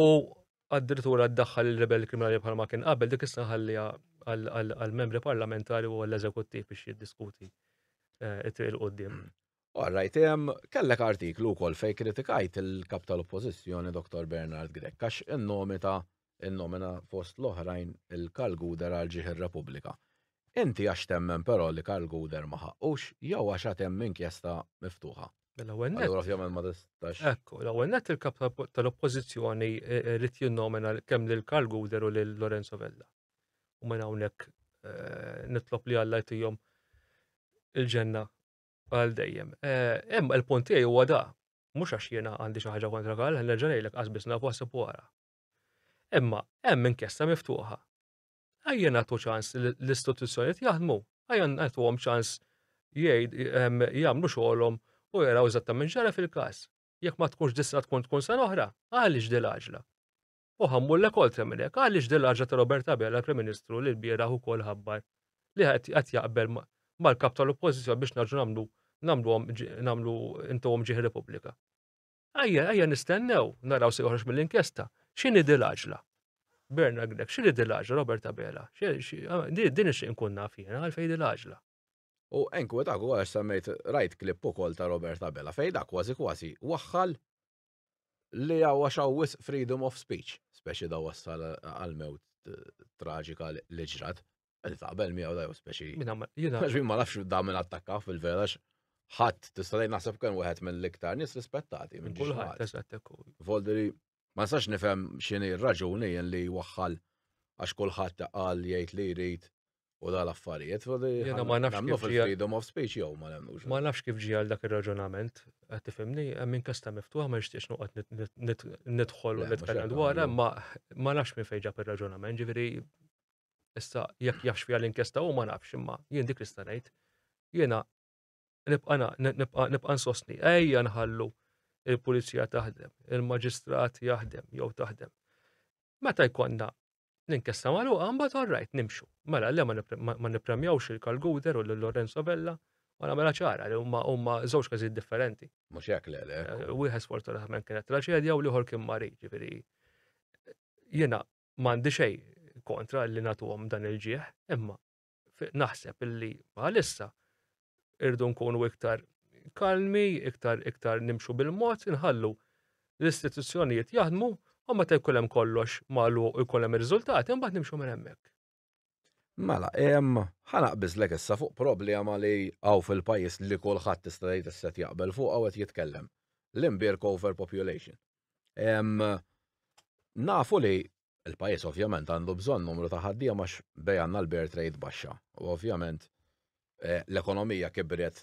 U addirittura ddaħħal il-rebel kriminali bħalma kien qabel dik issa ħallija għall-membri parlamentari u għall-eżekuttiv biex jiddiskuti eh, il-qoddim. All right, em, kellek artiklu wkoll fej kritikajt il-kap tal-oppożizzjoni Dr. Bernard Grek għax innomita innomina fost l-oħrajn il-Karl Guder għal ġieħ ir-Repubblika. Inti għax temmen però li Karl Guder ma ħaqqux jew għax għad hemm inkjesta miftuħa. L-ewwel nett. Allura ovvjament ma tistax. Ekku, l-ewwel nett il-kap tal- tal-oppożizzjoni eh, eh, rrid jinnomina kemm lil Karl Guder u lil Lorenzo Vella. U minn hawnhekk eh, nitlob li Alla jtihom il-ġenna Għal dejjem. Hemm eh, il-punt tiegħi huwa da, mhux għax jiena għandi xi ħaġa kontra Karl, nerġa' ngħidlek qas biss nafu għasib wara. Imma hemm inkjesta miftuħa. Ejja nagħtu ċans l-istituzzjonijiet jaħdmu, ejja nagħtuhom ċans jgħid ehm, jagħmlu xogħolhom u jaraw eżattament ġara fil-każ. Jekk ma tkunx dissa tkun tkun sa oħra, għaliex dil-għaġla? u ħammullek oltre minn hekk. Għaliex din l-għaġġa ta' Robert Abela, Prim Ministru, li l-bieraħ ukoll ħabbar li qed jaqbel mal-kap tal-Oppożizzjoni biex naġu nagħmlu nagħmluhom nagħmlu intuhom ġieħ Repubblika. Ejja, ejja nistennew, naraw se joħroġ mill-inkjesta. X'inhi din l-għaġla? Berna Grek, x'inhi din l-għaġla Robert Abela? Ah, din ix inkun naf jiena għalfejn din l-għaġla. U enku dak ukoll għax semmejt rajt klipp ukoll ta' Robert Abela fejn dak kważi kważi waħħal li hawn għax hawn wisq freedom of speech, speċi da wassal għal-mewt traġika li ġrat. Għed taqbel miegħu da speċi. Għax ma nafx da minn attakka fil-vera ħadd tista' tgħid naħseb kien wieħed mill-iktar nies rispettati minn kulħadd. Volderi ma nistax nifhem x'inhi r-raġuni li waħħal għax kulħadd qal jgħid li jrid u dal affarijiet Jiena ma nafx nagħmlu kif ġie- fil-freedom of speech jew ma nemmnux. Ma nafx kif ġie għal dak ir-raġunament, qed tifhimni, hemm inkjesta miftuħa ma nixtieqx noqgħod nit- nit- nit- nidħol u Le, mhux nitkellem hekk dwarha, nagħmlu. ma ma nafx minn fejn ġab ir-raġunament, ġifieri issa jekk jafx fiha l-inkjesta hu ma nafx, imma jien dik li sta ngħid. Jiena nibqa' na- nibqa' nibqa' nsostni, ejja nħallu il-pulizija taħdem, il-maġistrat jaħdem jew taħdem. Meta jkollna L-inkjesta magħluqa mbagħad all right nimxu. Mela le ma nippremjawx il-Kalguder u lil Lorenzo Vella u nagħmilha ċara li huma huma żewġ każijiet differenti. Mhux hekk le le. Eh, wieħed sfortunatament kienet traċedja u l-ieħor kien marid, ġifieri jiena m'għandi xejn kontra li nagħtuhom dan il-ġieħ, imma naħseb illi bħalissa irdu nkunu iktar kalmi, iktar iktar nimxu bil-mod, inħallu l-istituzzjonijiet jaħdmu u meta jkun hemm kollox malu u jkun hemm ir-riżultati mbagħad nimxu minn hemmhekk. Mela, hemm ħanaqbiżlek issa fuq problema li hawn fil-pajjiż li kulħadd tista' tgħid isset jaqbel fuq hawn qed jitkellem. L-imbirk overpopulation. Nafu li Il-pajjiż ovvjament għandu bżonn numru ta' ħaddiema għax b'hekk għandna l-birth rate baxxa u ovvjament l-ekonomija kibret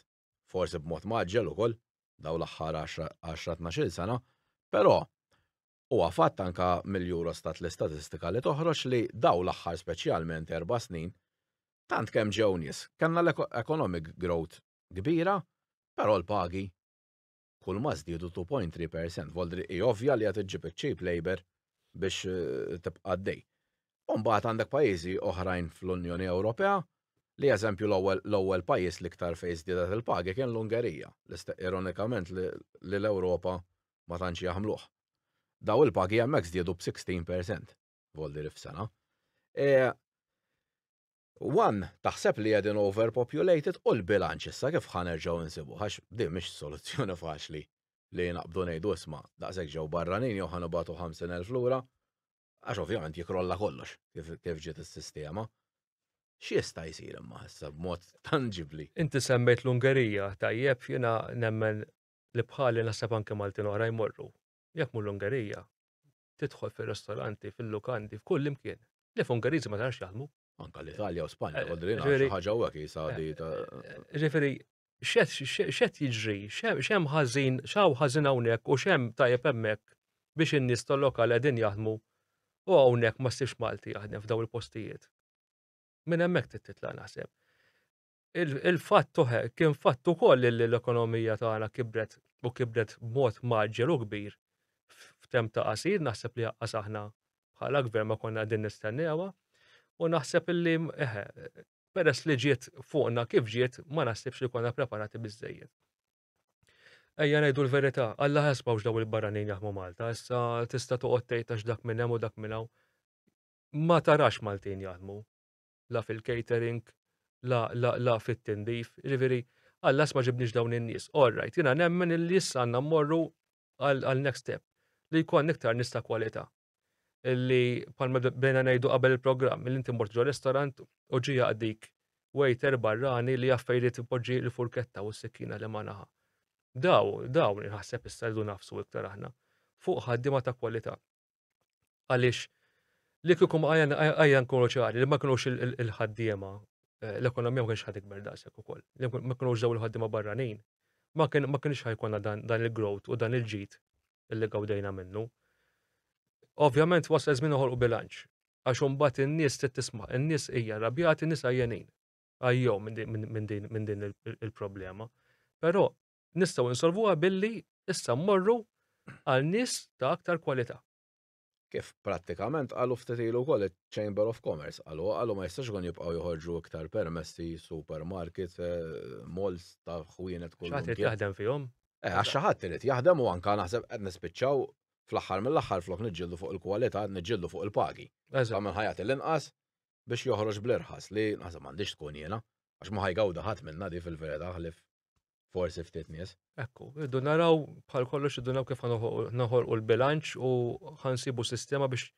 forsi b'mod mgħaġġel ukoll dawn l-aħħar għaxra tnax-il sena, però huwa fatt anke mill-Eurostat l-istatistika li toħroġ li dawn l-aħħar speċjalment erba' snin tant kemm ġew nies, kellna economic growth kbira, però l-pagi. kulma żdiedu 2.3%. Voldri hi ovvja li qed iġġib iċ-cheap labor biex eh, tibqa' għaddej. Umbagħad għandek pajjiżi oħrajn fl-Unjoni Ewropea li eżempju l-ewwel l-ewwel pajjiż li iktar fejn żdiedet il-pagi kien l-Ungerija, ironikament li l-Ewropa ma tantx jaħmluh. Daw il-pagi hemmhekk żdiedu b'16% voldiri f'sena. E, One, taħseb li qegħdin overpopulated u l-bilanċ issa kif ħa nerġgħu insibuh għax din mhix soluzzjoni faċli li naqbdu ngħidu isma' daqshekk ġew barranin jew ħa nibagħtu 50,000 lura għax ovvjament jikrolla kollox kif ġiet is-sistema. X'jista' jsir imma issa b'mod tanġibbli? Inti semmejt l-Ungerija, tajjeb, jiena nemmen li bħali naħseb anke Maltin oħra jmorru. Jekk mhu l-Ungerija, tidħol fir-restoranti, fil-lukandi, f'kull imkien. Lef Ungeriżi ma tarax jaħdmu. Anka l-Italja u Spanja, eh, għodri xi ħaġa u għak jisadi eh, ta' eh, Ġifieri, xed jiġri, xem ħażin, xaw ħażin hawnhekk u xem tajjeb hemmhekk biex in-nies tal-lokal qegħdin jaħdmu u hawnhekk ma ssibx Malti jaħdem f'daw il-postijiet. Minn hemmhekk titla' naħseb. Il-fatt kien fatt ukoll li l-ekonomija tagħna kibret u kibret b'mod mgħaġġel u kbir f'temp ta' qasir, naħseb li aqqas aħna bħala gvern ma konna qegħdin nistennewha u naħseb li eħe, peress li ġiet fuqna kif ġiet ma naħsibx li konna preparati biżejjed. Ejja ngħidu l-verità, Alla ħasbawx daw il-barranin jaħmu Malta, issa tista' toqgħod tgħid għax dak minn hemm u dak minn hawn. Ma tarax Maltin jaħdmu. la fil-catering, la, la, la fit-tindif. Jiġifieri, għallas ma ġibniex dawn in-nies. All right, jiena nemmen illi issa għandna mmorru għal next step li jkun iktar nies ta' kwalità. Illi palma bdejna ngħidu qabel il-programm, illi inti mort ġo restaurant u ġi jaqdik waiter barrani li jaffejri tipoġġi l-furketta u s-sikkina li ma naħa. Daw, dawn, naħseb issa rridu nafsu iktar aħna fuq ħaddiema ta' kwalità. Għaliex li kieku għajja nkunu ċari li ma kinux il-ħaddiema eh, l-ekonomija ma kienx ħad ikber daqshekk ukoll. Li ma kinux żew il-ħaddiema barranin ma kienx ħajkonna dan il-growth u dan il-ġid li gawdejna minnu. Ovvjament wasal żmien uħolqu bilanċ. Għax imbagħad in-nies trid tisma', in-nies hija rabjati, in-nies għajjenin. Għajjew minn din il-problema. Però Nistgħu insolvuha billi issa mmorru għal nies ta' aktar kwalità. Kif prattikament qalu ftit ilu wkoll iċ-Chamber of Commerce, qalu, qalu ma jistax ikun jibqgħu joħorġu iktar permessi supermarkets, malls ta' ħwienet kull imkien. Xi ħadd irid jaħdem fihom. Eh, għax xi ħadd irid jaħdem u anke naħseb qed nispiċċaw fl-aħħar mill-aħħar flok niġġieldu fuq il-kwalità qed niġġieldu fuq il-pagi. Ta' min ħa jagħti l-inqas biex joħroġ bl-irħas li naħseb m'għandhiex tkun jiena għax ma ħa jgawda ħadd minnha di fil-verità ħlief Forsi ftit nies. Ekku, iddu naraw bħal kollox iddu naraw kif naħolqu l-bilanċ u ħansibu sistema biex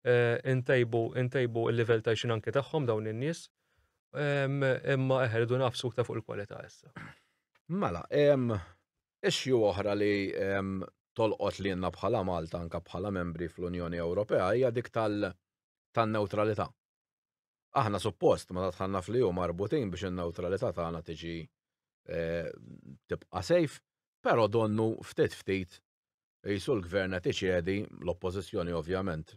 eh, intejbu intejbu il-livell ta' xin anke tagħhom dawn in-nies. Imma eħer iddu nafsu ta' fuq il-kwalità issa. Mela, issue oħra li tolqot li jenna bħala Malta anka bħala membri fl-Unjoni Ewropea hija dik tal-neutralità. Aħna suppost meta dħalna fl-EU marbutin biex in-newtralità tagħna tiġi eh, tibqa' safe, però donnu ftit ftit jisu l-gvern qed iċedi l-oppożizzjoni ovvjament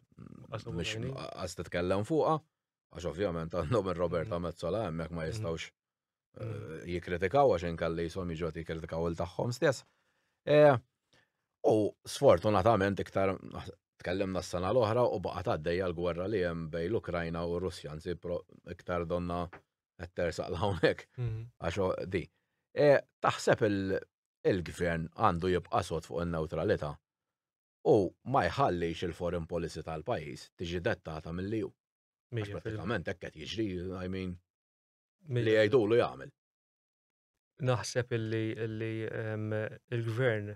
għas titkellem fuqha, għax ovvjament għandhom ir-Roberta mm-hmm. Mezzola hemmhekk ma mm-hmm. jistgħux mm. jikritikaw għax inkalli jisom jiġu jikritikaw il tagħhom stess. Eh, u sfortunatament iktar tkellimna s-sena l-oħra u baqgħet għaddejja l-gwerra li hemm bej l-Ukrajna u r-Russja, nsi iktar donna etter saqla hawnhekk mhm. għax di. E, taħseb il-gvern għandu jibqa' sod fuq in-neutralità u ma jħallix il-foreign policy tal-pajjiż tiġi dettata mill-liju. Pratikament hekk qed jiġri, I mean, li jgħidulu jagħmel. Naħseb illi illi ehm, il-gvern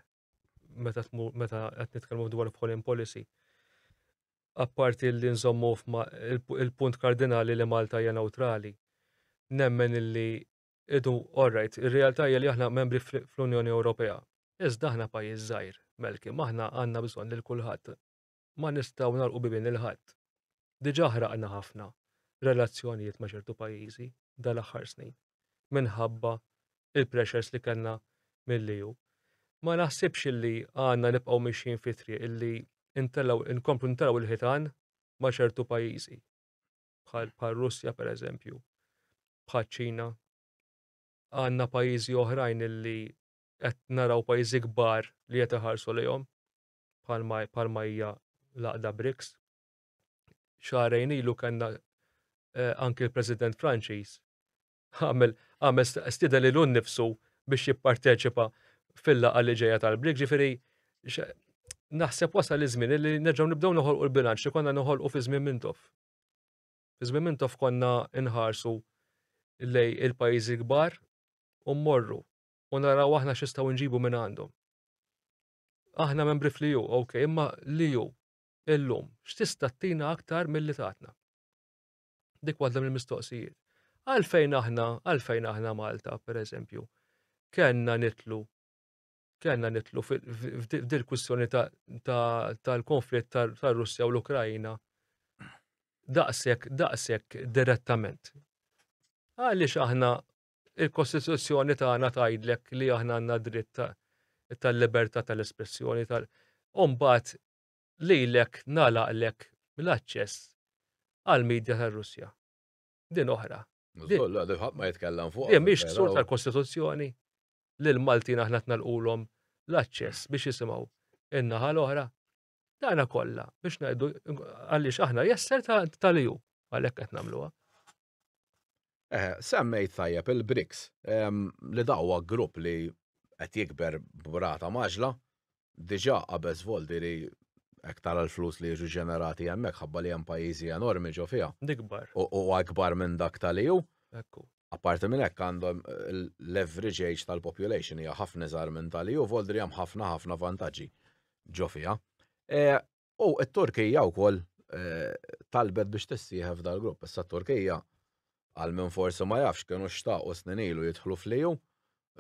meta meta qed nitkellmu dwar foreign policy apparti li nżommu il-punt kardinali li Malta hija neutrali, nemmen illi idu orrajt, ir-realtà hija li aħna membri fl-Unjoni Ewropea. Iżda aħna pajjiż żgħir, Melki, aħna għandna bżonn lil kulħadd. ma nistgħu nagħlqu bibien lil ħadd. Diġà ħraqna ħafna relazzjonijiet ma' ċertu pajjiżi dal-aħħar snin minħabba il-pressures li kellna mill-EU. Ma naħsibx illi għandna nibqgħu mixjin fi triq illi intellaw inkomplu ntellaw il-ħitan ma' ċertu pajjiżi bħal bħal Russja pereżempju, bħal Ċina. Għandna pajjiżi oħrajn illi qed naraw pajjiżi kbar li qed iħarsu lejhom bħalma hija l-għaqda BRICS. Xahrejn ilu kellna anki l-President Franċiż għamel stida li l nifsu biex jipparteċipa fil-laqa li ġeja tal-brik, ġifiri, naħseb wasal iż-żmien li nerġgħu nibdew noħolqu l-bilanċ li konna noħolqu fi żmien mintof. Fi żmien mintof konna nħarsu lej il-pajjiżi kbar u mmorru u naraw aħna x'istgħu nġibu minn għandhom. Aħna membri fl-EU, ok, imma l-EU illum x'tista' tina aktar milli tatna. Dik waħda mill-mistoqsijiet. Għalfejn aħna, għalfejn aħna Malta, per eżempju, kellna nitlu kellna nitlu f'dil kwistjoni tal-konflitt tar-Russja u l-Ukrajina daqshekk daqshekk direttament. Għaliex aħna Il-Kostituzzjoni tagħna tgħidlek li aħna għandna dritt tal-libertà tal-espressjoni tal u mbagħad lilek nagħlaqlek l-aċċess għall-medja tar-Russja. Din oħra. Ħadd ma jitkellem fuq. Din mhix ksur tal-Kostituzzjoni li l-Maltin aħna tnalqulhom l-aċċess biex jisimgħu in-naħa l-oħra. Tagħna kollha biex ngħidu għaliex aħna jesser tal-EU għalhekk qed nagħmluha. Eh, semmejt tajjeb il-BRICS ehm, li dawwa grupp li qed jikber brata maġla diġà qabeż voldi li hekk tara l-flus li jiġu ġenerati hemmhekk ħabba li hemm pajjiżi enormi ġo fiha. Dikbar. U akbar minn dak tal-EU. Ekku. Apparti minn hekk għandhom l-average age tal-population hija ħafna iżgħar minn tali u Voldri hemm ħafna ħafna vantaġġi ġo fiha. E, u t-Turkija wkoll e, talbet biex tissieħeb dal-grupp. Issa t-Turkija għal minn forsi ma jafx kienu xtaqu snin ilu jidħlu fliju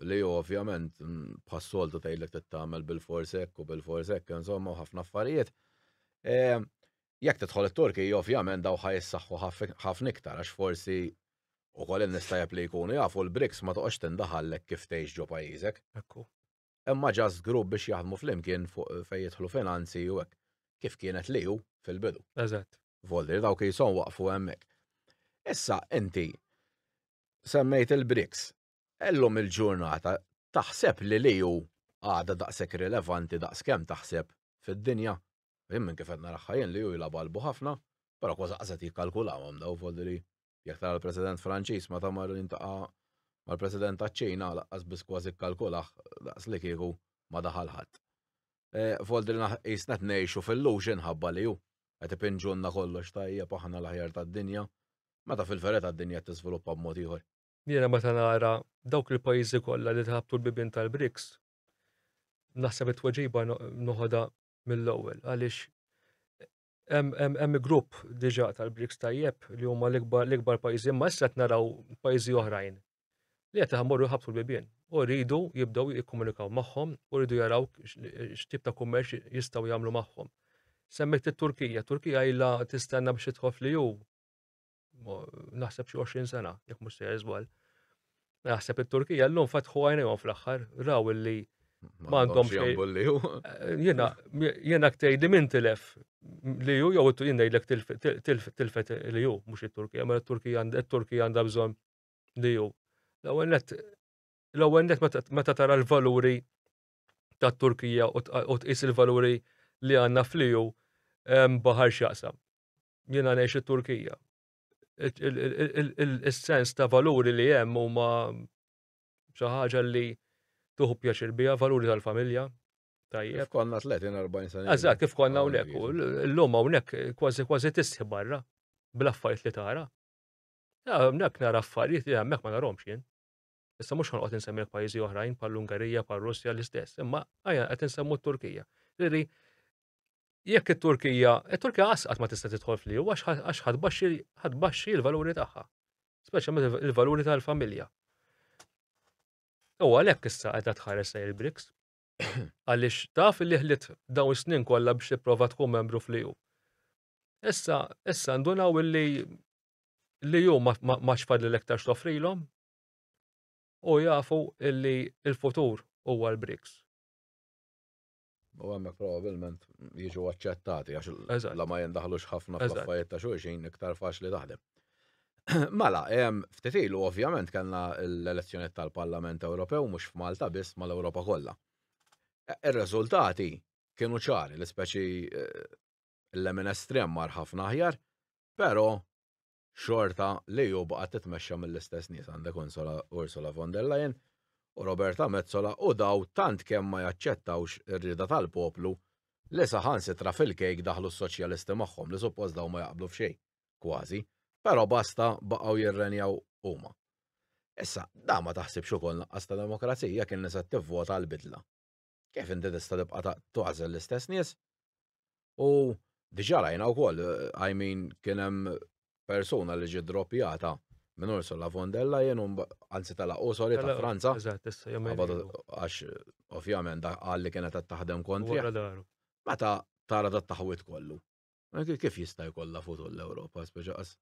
li ju ovvjament bħas-soltu tgħidlek tittamel bil-forsek u bil-forsek insomma ħafna affarijiet. E, Jekk tidħol it-Turkija ovvjament dawn ħa jissaħħu ħafna iktar għax forsi wkoll in-nistgħeb li jkunu jafu l-BRICS ma toqgħodx tindaħal lhekk kif tgħix ġo pajjiżek. Hekk hu. Imma just grupp biex jaħdmu flimkien fuq fejn jidħlu finanzi u hekk. Kif kienet l-EU fil-bidu. Eżatt. Volli li dawk qishom waqfu hemmhekk. Issa inti semmejt il-BRICS. Illum il-ġurnata taħseb li l-EU għadha daqshekk rilevanti daqskemm taħseb fid-dinja? Jien minn kif qed narah jien li hu jilgħab qalbu ħafna, però kważi qas qed jikkalkulahom dawn f'għodu li jekk tara l-President Franċiż meta mar jiltaqa' mal-President taċ-Ċina lanqas biss kważi kkalkulah daqs li kieku ma daħal ħadd. F'għodu li qisna qed ngħixu f'illusion ħabba li hu qed ipinġulna kollox tajjeb aħna l-aħjar tad-dinja meta fil-verità d-dinja qed tiżviluppa b'mod ieħor. Jiena meta nara dawk il-pajjiżi kollha li ħabtu l-bibien tal-BRICS naħseb it-tweġiba noħodha mill-ewwel għaliex hemm grupp diġà tal-Briks tajjeb li huma l-ikbar pajjiżi, imma issa qed naraw pajjiżi oħrajn li qed iħammorru jħabtu l-bibien u rridu jibdew jikkomunikaw magħhom u rridu jaraw x'tip ta' kummerċ jistgħu jagħmlu magħhom. Semmejt it-Turkija, Turkija ilha tistenna biex tidħol fl-EU naħseb xi 20 sena, jekk mhux sejjer żball. Naħseb it-Turkija llum fatħu għajnejhom fl-aħħar, raw illi ma għandhom xejn. Jiena jiena ktejdi minn tilef li ju jew jien ngħidlek tilfet li ju mhux it-Turkija, ma t-Turkija t-Turkija għandha bżonn li ju. L-ewwel net l-ewwel net meta tara l-valuri tat-Turkija u tqis il-valuri li għandna fl-EU baħar x'jaqsam. Jiena ngħix it-Turkija. Is-sens ta' valuri li hemm huma xi ħaġa li tuħu pjaċir biha, valuri tal-familja. Tajjeb. Konna 30-40 sena. Eżatt, kif konna hawnhekk. L-lum hawnhekk kważi kważi tisħi barra bl-affarijiet li tara. Hawnhekk nara affarijiet li hemmhekk ma narhomx jien. Issa mhux ħanqgħod insemmilek pajjiżi oħrajn bħall-Ungerija, bħar-Russja l-istess, imma ħajja qed insemmu t-Turkija. Ġifieri jekk it-Turkija, it-Turkija qasqat ma tista' tidħol fl-EU għax ħadbaxxi l-valuri tagħha, speċjalment il-valuri tal-familja. U għalhekk issa qed tħares lejn il-BRICS. Għaliex taf li ħlit dawn snin kollha biex tipprova tkun membru fl-EU. Issa, issa ndunaw illi li ju ma xfad l-ektar xtofrilom, u jafu illi il-futur huwa l-BRICS. U għemmek probabilment jiġu accettati għax la ma jendaħlux ħafna fl-affarijiet ta' xulxin iktar faċli taħdem. Mela, ftit ilu ovvjament kellna l-elezzjoniet tal-Parlament Ewropew mhux f'Malta biss mal-Ewropa kollha. E, ir-riżultati kienu ċari, l-ispeċi eh, l-emin estrem mar ħafna aħjar, però xorta l-EU baqgħet titmexxa mill-istess nies, għandek Ursula von der Leyen u Roberta Metsola u daw tant kemm ma jaċċettawx ir-rieda tal-poplu li saħansitra fil-kejk daħlu s-soċjalisti magħhom li suppost dawn ma jaqblu f'xejn, kważi, però basta baqgħu jirrenjaw huma. Issa, dan ma taħsibx ukoll naqqas ta' demokrazija jekk in-nisa tivvota għall-bidla? Kif inti tista' tibqa' tagħżel l-istess nies? U diġà rajna wkoll, eh, I mean, kien hemm persuna li ġiet droppjata minn Ursula von der Leyen, anzi tala' u sorry ta' Franza. Għax, ovvjament, għalli kienet qed taħdem kontri. Meta tara dat taħwit kollu. Kif jista' jkollha futur l-Ewropa, speċa qas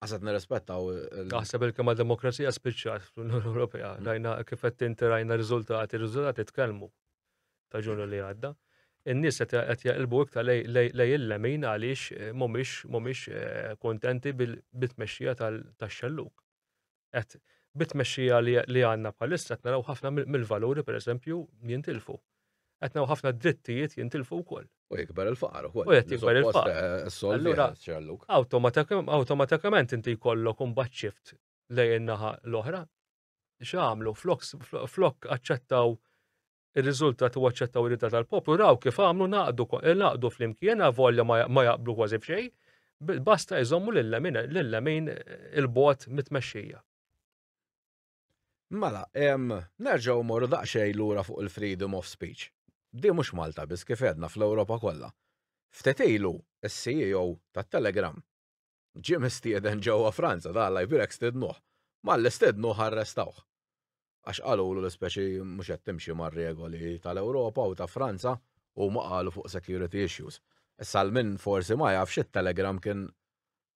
qasat nirrispettaw. Naħseb il-kema demokrazija spiċċat fl-Unjoni Ewropea. Mm. Rajna kif qed tinti rajna riżultati, riżultati tkellmu ta' ġunu li għadda. In-nies qed jaqilbu iktar lej il-lemin għaliex eh, mhumiex mhumiex eh, kontenti bil-bitmexxija tax-xelluk. qed bit-tmexxija li għandna bħalissa qed naraw ħafna mill-valuri pereżempju jintilfu. Qed naraw ħafna drittijiet jintilfu wkoll. U jikber il-faqar ukoll. U qed jikber il-faqar. Eh, Allura awtomatikament inti jkollok imbagħad xift lejn naħa l-oħra. X'għamlu flok flok aċċettaw Ir-riżultat u aċċettaw ir-rida tal-poplu raw kif għamlu naqdu naqdu flimkien avolja ma jaqblu kważi b'xejn, basta jżommu lill-lemin il-bot mit-tmexxija. Mela, nerġgħu morru daqsxejn lura fuq il-freedom of speech. Di mhux Malta biss kif għedna fl-Ewropa kollha. Ftit ilu, is-CEO tat-Telegram Ġie mistieden ġewwa Franza, ta' Alla jbierek stednuh. Malli stednuh arrestawh. Għax qalulu l-ispeċi mhux qed timxi mar-regoli tal-Ewropa u ta' Franza, huma qalu fuq security issues. Issa għal min forsi ma jafx it-Telegram kien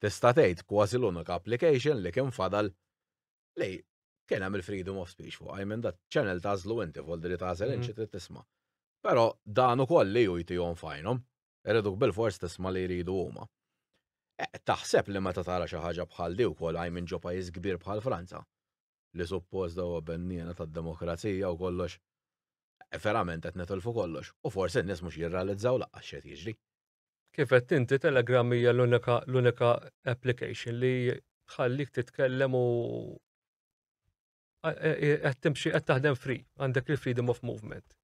tista' tgħid kważi l-unika application li kien fadal li kien hemm il-freedom of speech fuqha, I mean that channel tagħżlu inti, voldi li tagħżel int xi trid tisma'. Però dan ukoll li hu jtihom f'għajnhom Iriduk bilfors tisma' li jridu huma. Taħseb li meta tara xi ħaġa bħal di wkoll hi minn ġo pajjiż kbir bħal Franza, li suppost dewwa benniena tad-demokrazija u kollox, verament qed nitilfu kollox u forsi n-nies mhux jirrealizzaw lanqas x'qed jiġri. Kif għedt inti Telegram hija l-unika l-unika application li tħallik titkellem u qed timxi qed taħdem free, għandek il-freedom of movement.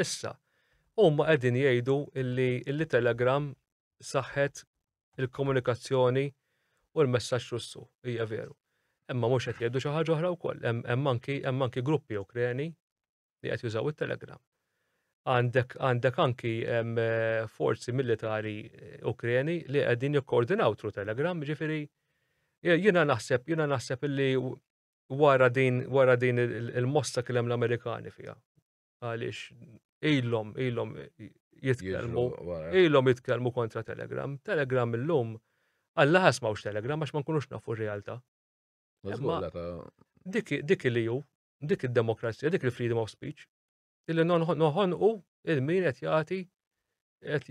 Issa, huma qegħdin jgħidu illi illi Telegram saħħet il-komunikazzjoni u l-messaġġ Russu, hija veru. Imma mhux qed jgħidu xi ħaġa oħra wkoll, hemm anki hemm anki gruppi Ukreni li qed jużaw it-Telegram. Għandek għandek anki hemm eh, forzi militari eh, Ukreni li qegħdin jikkoordinaw tru Telegram, ġifieri jiena naħseb jiena naħseb illi wara din wara din il-mossa kellem l-Amerikani fiha għaliex ilhom ilhom jitkellmu ilhom jitkellmu kontra Telegram. Telegram illum Alla ħas mawx Telegram għax ma nkunux nafu r-realtà. Dik li ju, dik id-demokrazija, dik il-freedom of speech, illi noħonqu il-min qed jagħti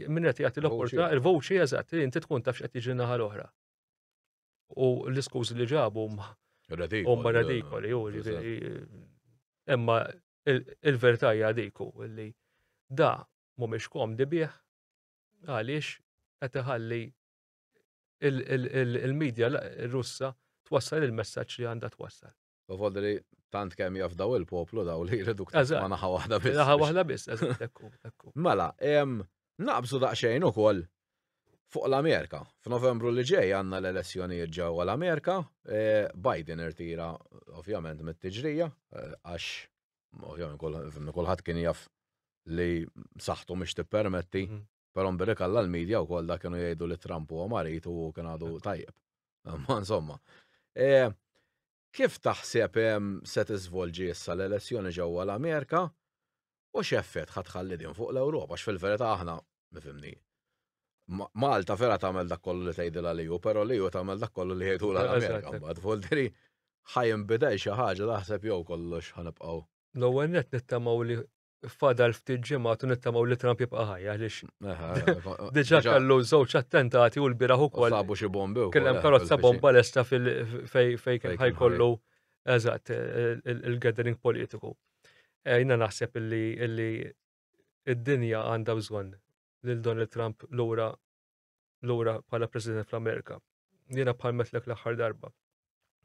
min qed jagħti l-opportunità, il-voċi eżatt li inti tkun tafx qed jiġri naħa l-oħra. U l-iskużi li ġabu huma radikoli, u imma il-verità hija diku li da mhumiex komdi bih għaliex qed iħalli il-medja russa twassal il-messaġġ li għandha twassal. Tovod li tant kemm jaf daw il-poplu daw li jridu ma naħa waħda biss. Naħa waħda biss, ekku, ekku. Mela, naqbżu daqsxejn ukoll fuq l-Amerika. F'Novembru li ġej għandna l-elezzjonijiet ġewwa l-Amerika, e, Biden irtira ovvjament mit-tiġrija e, għax ovvjament kulħadd kien jaf li saħtu mhix tippermetti mhm. Però mbirrik għalla l-medja u koll da kienu jgħidu li Trump huwa marit u kien għadu tajjeb. Ma insomma. E, kif taħseb se tiżvolġi issa l-elezzjoni ġewwa l-Amerika u x'effett ħadd ħalli din fuq l-Ewropa x'fil-verità aħna nifhimni. Malta vera tagħmel dak kollu li tgħidilha li hu, però li hu tagħmel dak kollu li jgħidu l-Amerika mbagħad. Volteri ħajn bidel xi ħaġa taħseb jew kollox ħanibqgħu. L-ewwel net nittamaw li fadal ftit ġimgħat u nittamaw li Trump jibqa' ħaj għaliex. Diġà kellu żewġ attentati u l-biraħ ukoll. Sabu xi bombi wkoll. Kellem karozza bomba lesta fej kien ħajkollu eżatt il-gathering politiku. Eh, jina naħseb illi id-dinja għandha bżonn lil Donald Trump lura lura bħala President fl-Amerika. Jiena palmetlek l-aħħar darba.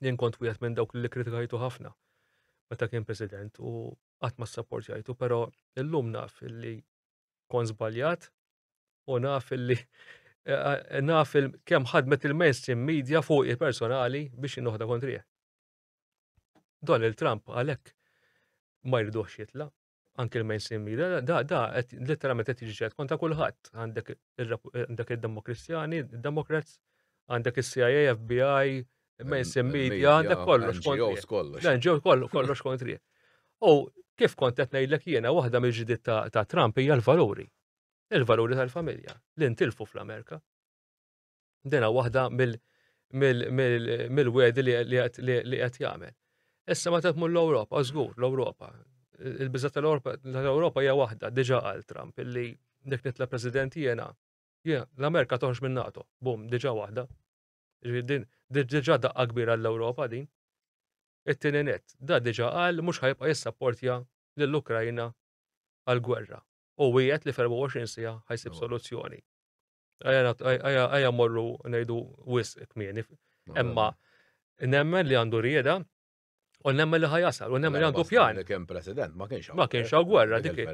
Jien kont wieħed minn dawk li kritikajtu ħafna meta kien President u qatt ma sapportjajtu, però illum naf li kon żbaljat u naf li eh, eh, naf kemm ħadmet il-mainstream media fuq il-personali biex jinnoħda kontrih. Donald Trump għalhekk ma jridux jitla, anke l-mainstream media, da, da, letteralment qed jiġi konta kulħadd. Għandek id-demokristjani, id-demokrats, għandek is-CIA, FBI, mainstream media, għandek kollox kontri. Dan ġew kollox kontri. U kif kont qed ngħidlek jiena waħda mill-ġdid ta' Trump hija l-valuri. Il-valuri tal-familja li ntilfu fl-Amerika. Dena waħda mill-wedi li qed jagħmel. Issa meta tmur l-Ewropa, żgur l-Ewropa. Il-biża tal-Ewropa hija waħda, diġà għal Trump, illi nek nitla president jiena, l-Amerika toħx minn NATO, bum, diġà waħda. Diġà daqqa kbira l-Ewropa din. It-tieni net, da diġà qal mhux ħajbqa' jissapportja lill-Ukrajna għal gwerra. U wieħed li 24 sija ħajsib soluzzjoni. Għajja morru nejdu wis kmieni. Emma, nemmen li għandu rieda, u nemmen li ħajasal, u nemmen li għandu pjan. Kien president, ma kienx Ma kienx għaw gwerra, dik.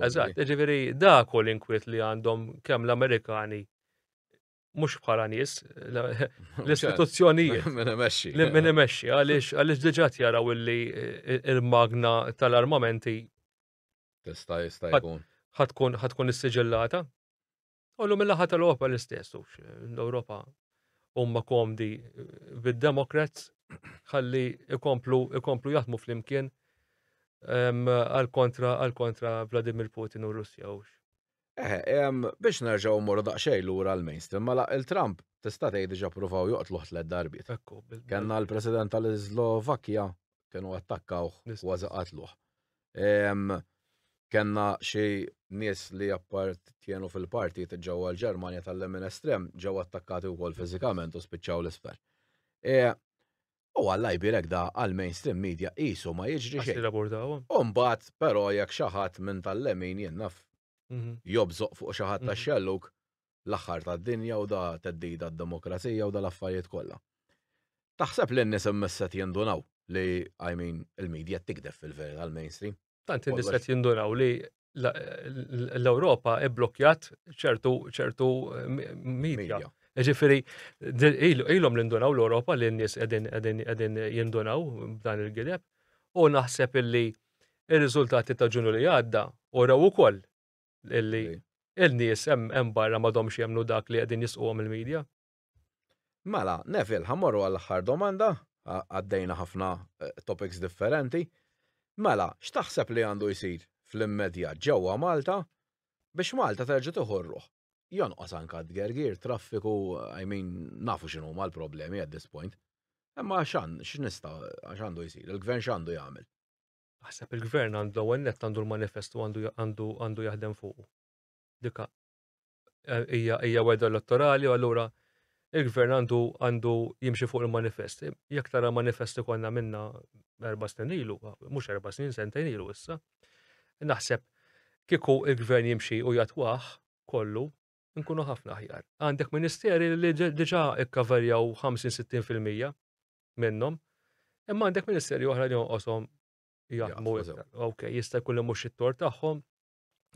Eżat, ġiviri, da kol inkwit li għandhom kem l-Amerikani mux bħala nis, l-istituzzjonijiet. Minn emesċi. Minn emesċi, għalix diġat jaraw illi eh, il-magna tal-armamenti. Tista' jista' jkun. Ħatkun ħatkun is-siġillata. Għallu mill-laħat tal-Europa l-istess, ux l-Europa umma komdi vid-Democrats, ħalli ikomplu, ikomplu jaħdmu fl-imkien għal-kontra, għal-kontra Vladimir Putin u Russja, ux. Eh, biex nerġaw morru daqxej l-ura l-mainstream, mela il-Trump tista' tgħid diġà provaw joqtlu ħtlet darbiet. Kenna l-President tal-Slovakkja kienu attakkawh kważi qatluh. Kenna xi nies li appartjenu fil-parti ġewwa l-Ġermanja tal-lemin estrem ġew attakkati wkoll fiżikament u spiċċaw l-isfel. E, u għalla jbirek da għal-mainstream media qisu ma jiġri xejn. Umbat, però jekk xi ħadd minn tal-lemin jennaf mhm. jobżoq fuq xi ħadd mhm. tax-xelluk, l-aħħar tad-dinja u da teddida d-demokrazija u da l-affarijiet kollha. Taħseb li n-nies immisset jindunaw li, I mean, il-medja tikdef fil-verità l-mainstream. Tant in-nies qed jindunaw li l-Ewropa ibblokjat ċertu ċertu medja. Ġifiri, ilhom l-indunaw l-Ewropa li n-nies qegħdin jindunaw b'dan il-gideb u naħseb illi ir-riżultati ta' ġunju li għadda u raw ukoll Illi il-nies hemm barra m'għadhomx jemnu dak li qegħdin jisquhom il-medja. Mela, Neville, ħamorru għall-aħħar domanda, għaddejna ħafna eh, topics differenti. Mela, x'taħseb li għandu jsir fl-immedja ġewwa Malta biex Malta terġa' tiħorruh? Jonqos anka d-gergir, traffiku, I mean, nafu x'inhu ma l-problemi at this point. Imma x'an, x'nista, x'għandu jsir, il-gvern x'għandu jagħmel? Naħseb il-gvern għandu l-ewwel nett għandu l-manifest u għandu għandu għandu jaħdem fuq. Dika eh, hija hija weda elettorali u allura il-gvern għandu għandu jimxi fuq il-manifest. Jekk tara manifest ikollna minna erba' snin ilu, mhux erba' snin sentejn ilu issa. Naħseb kieku il-gvern jimxi u jatwaħ kollu nkunu ħafna aħjar. Għandek ministeri li diġa ikkaverjaw 50-60% minnhom, imma għandek ministeri oħra li jonqosom jaħdmu. Ok, jista' jkun li mhux it-tor tagħhom,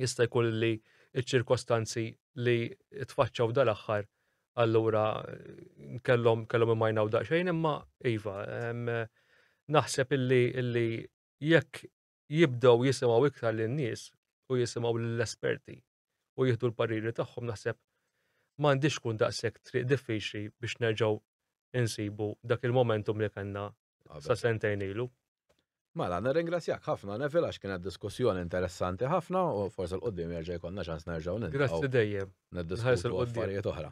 jista' jkun li ċ-ċirkostanzi li tfaċċaw dal-aħħar allura kellhom kellhom imajnaw daqsxejn imma iva naħseb illi illi jekk jibdew jisimgħu iktar lin-nies u jisimgħu lill-esperti u jieħdu l-pariri tagħhom naħseb m'għandhiex tkun daqshekk triq diffiċli biex nerġgħu insibu dak il-momentum li kellna sa sentejn ilu. Mela, nirringrazzjak ħafna Neville għax kienet diskussjoni interessanti ħafna u forsi l-qudiem jerġa' jkollna ċans nerġgħu niltaqgħu. Grazzi dejjem. Nħares il-qudiem. Affarijiet oħra.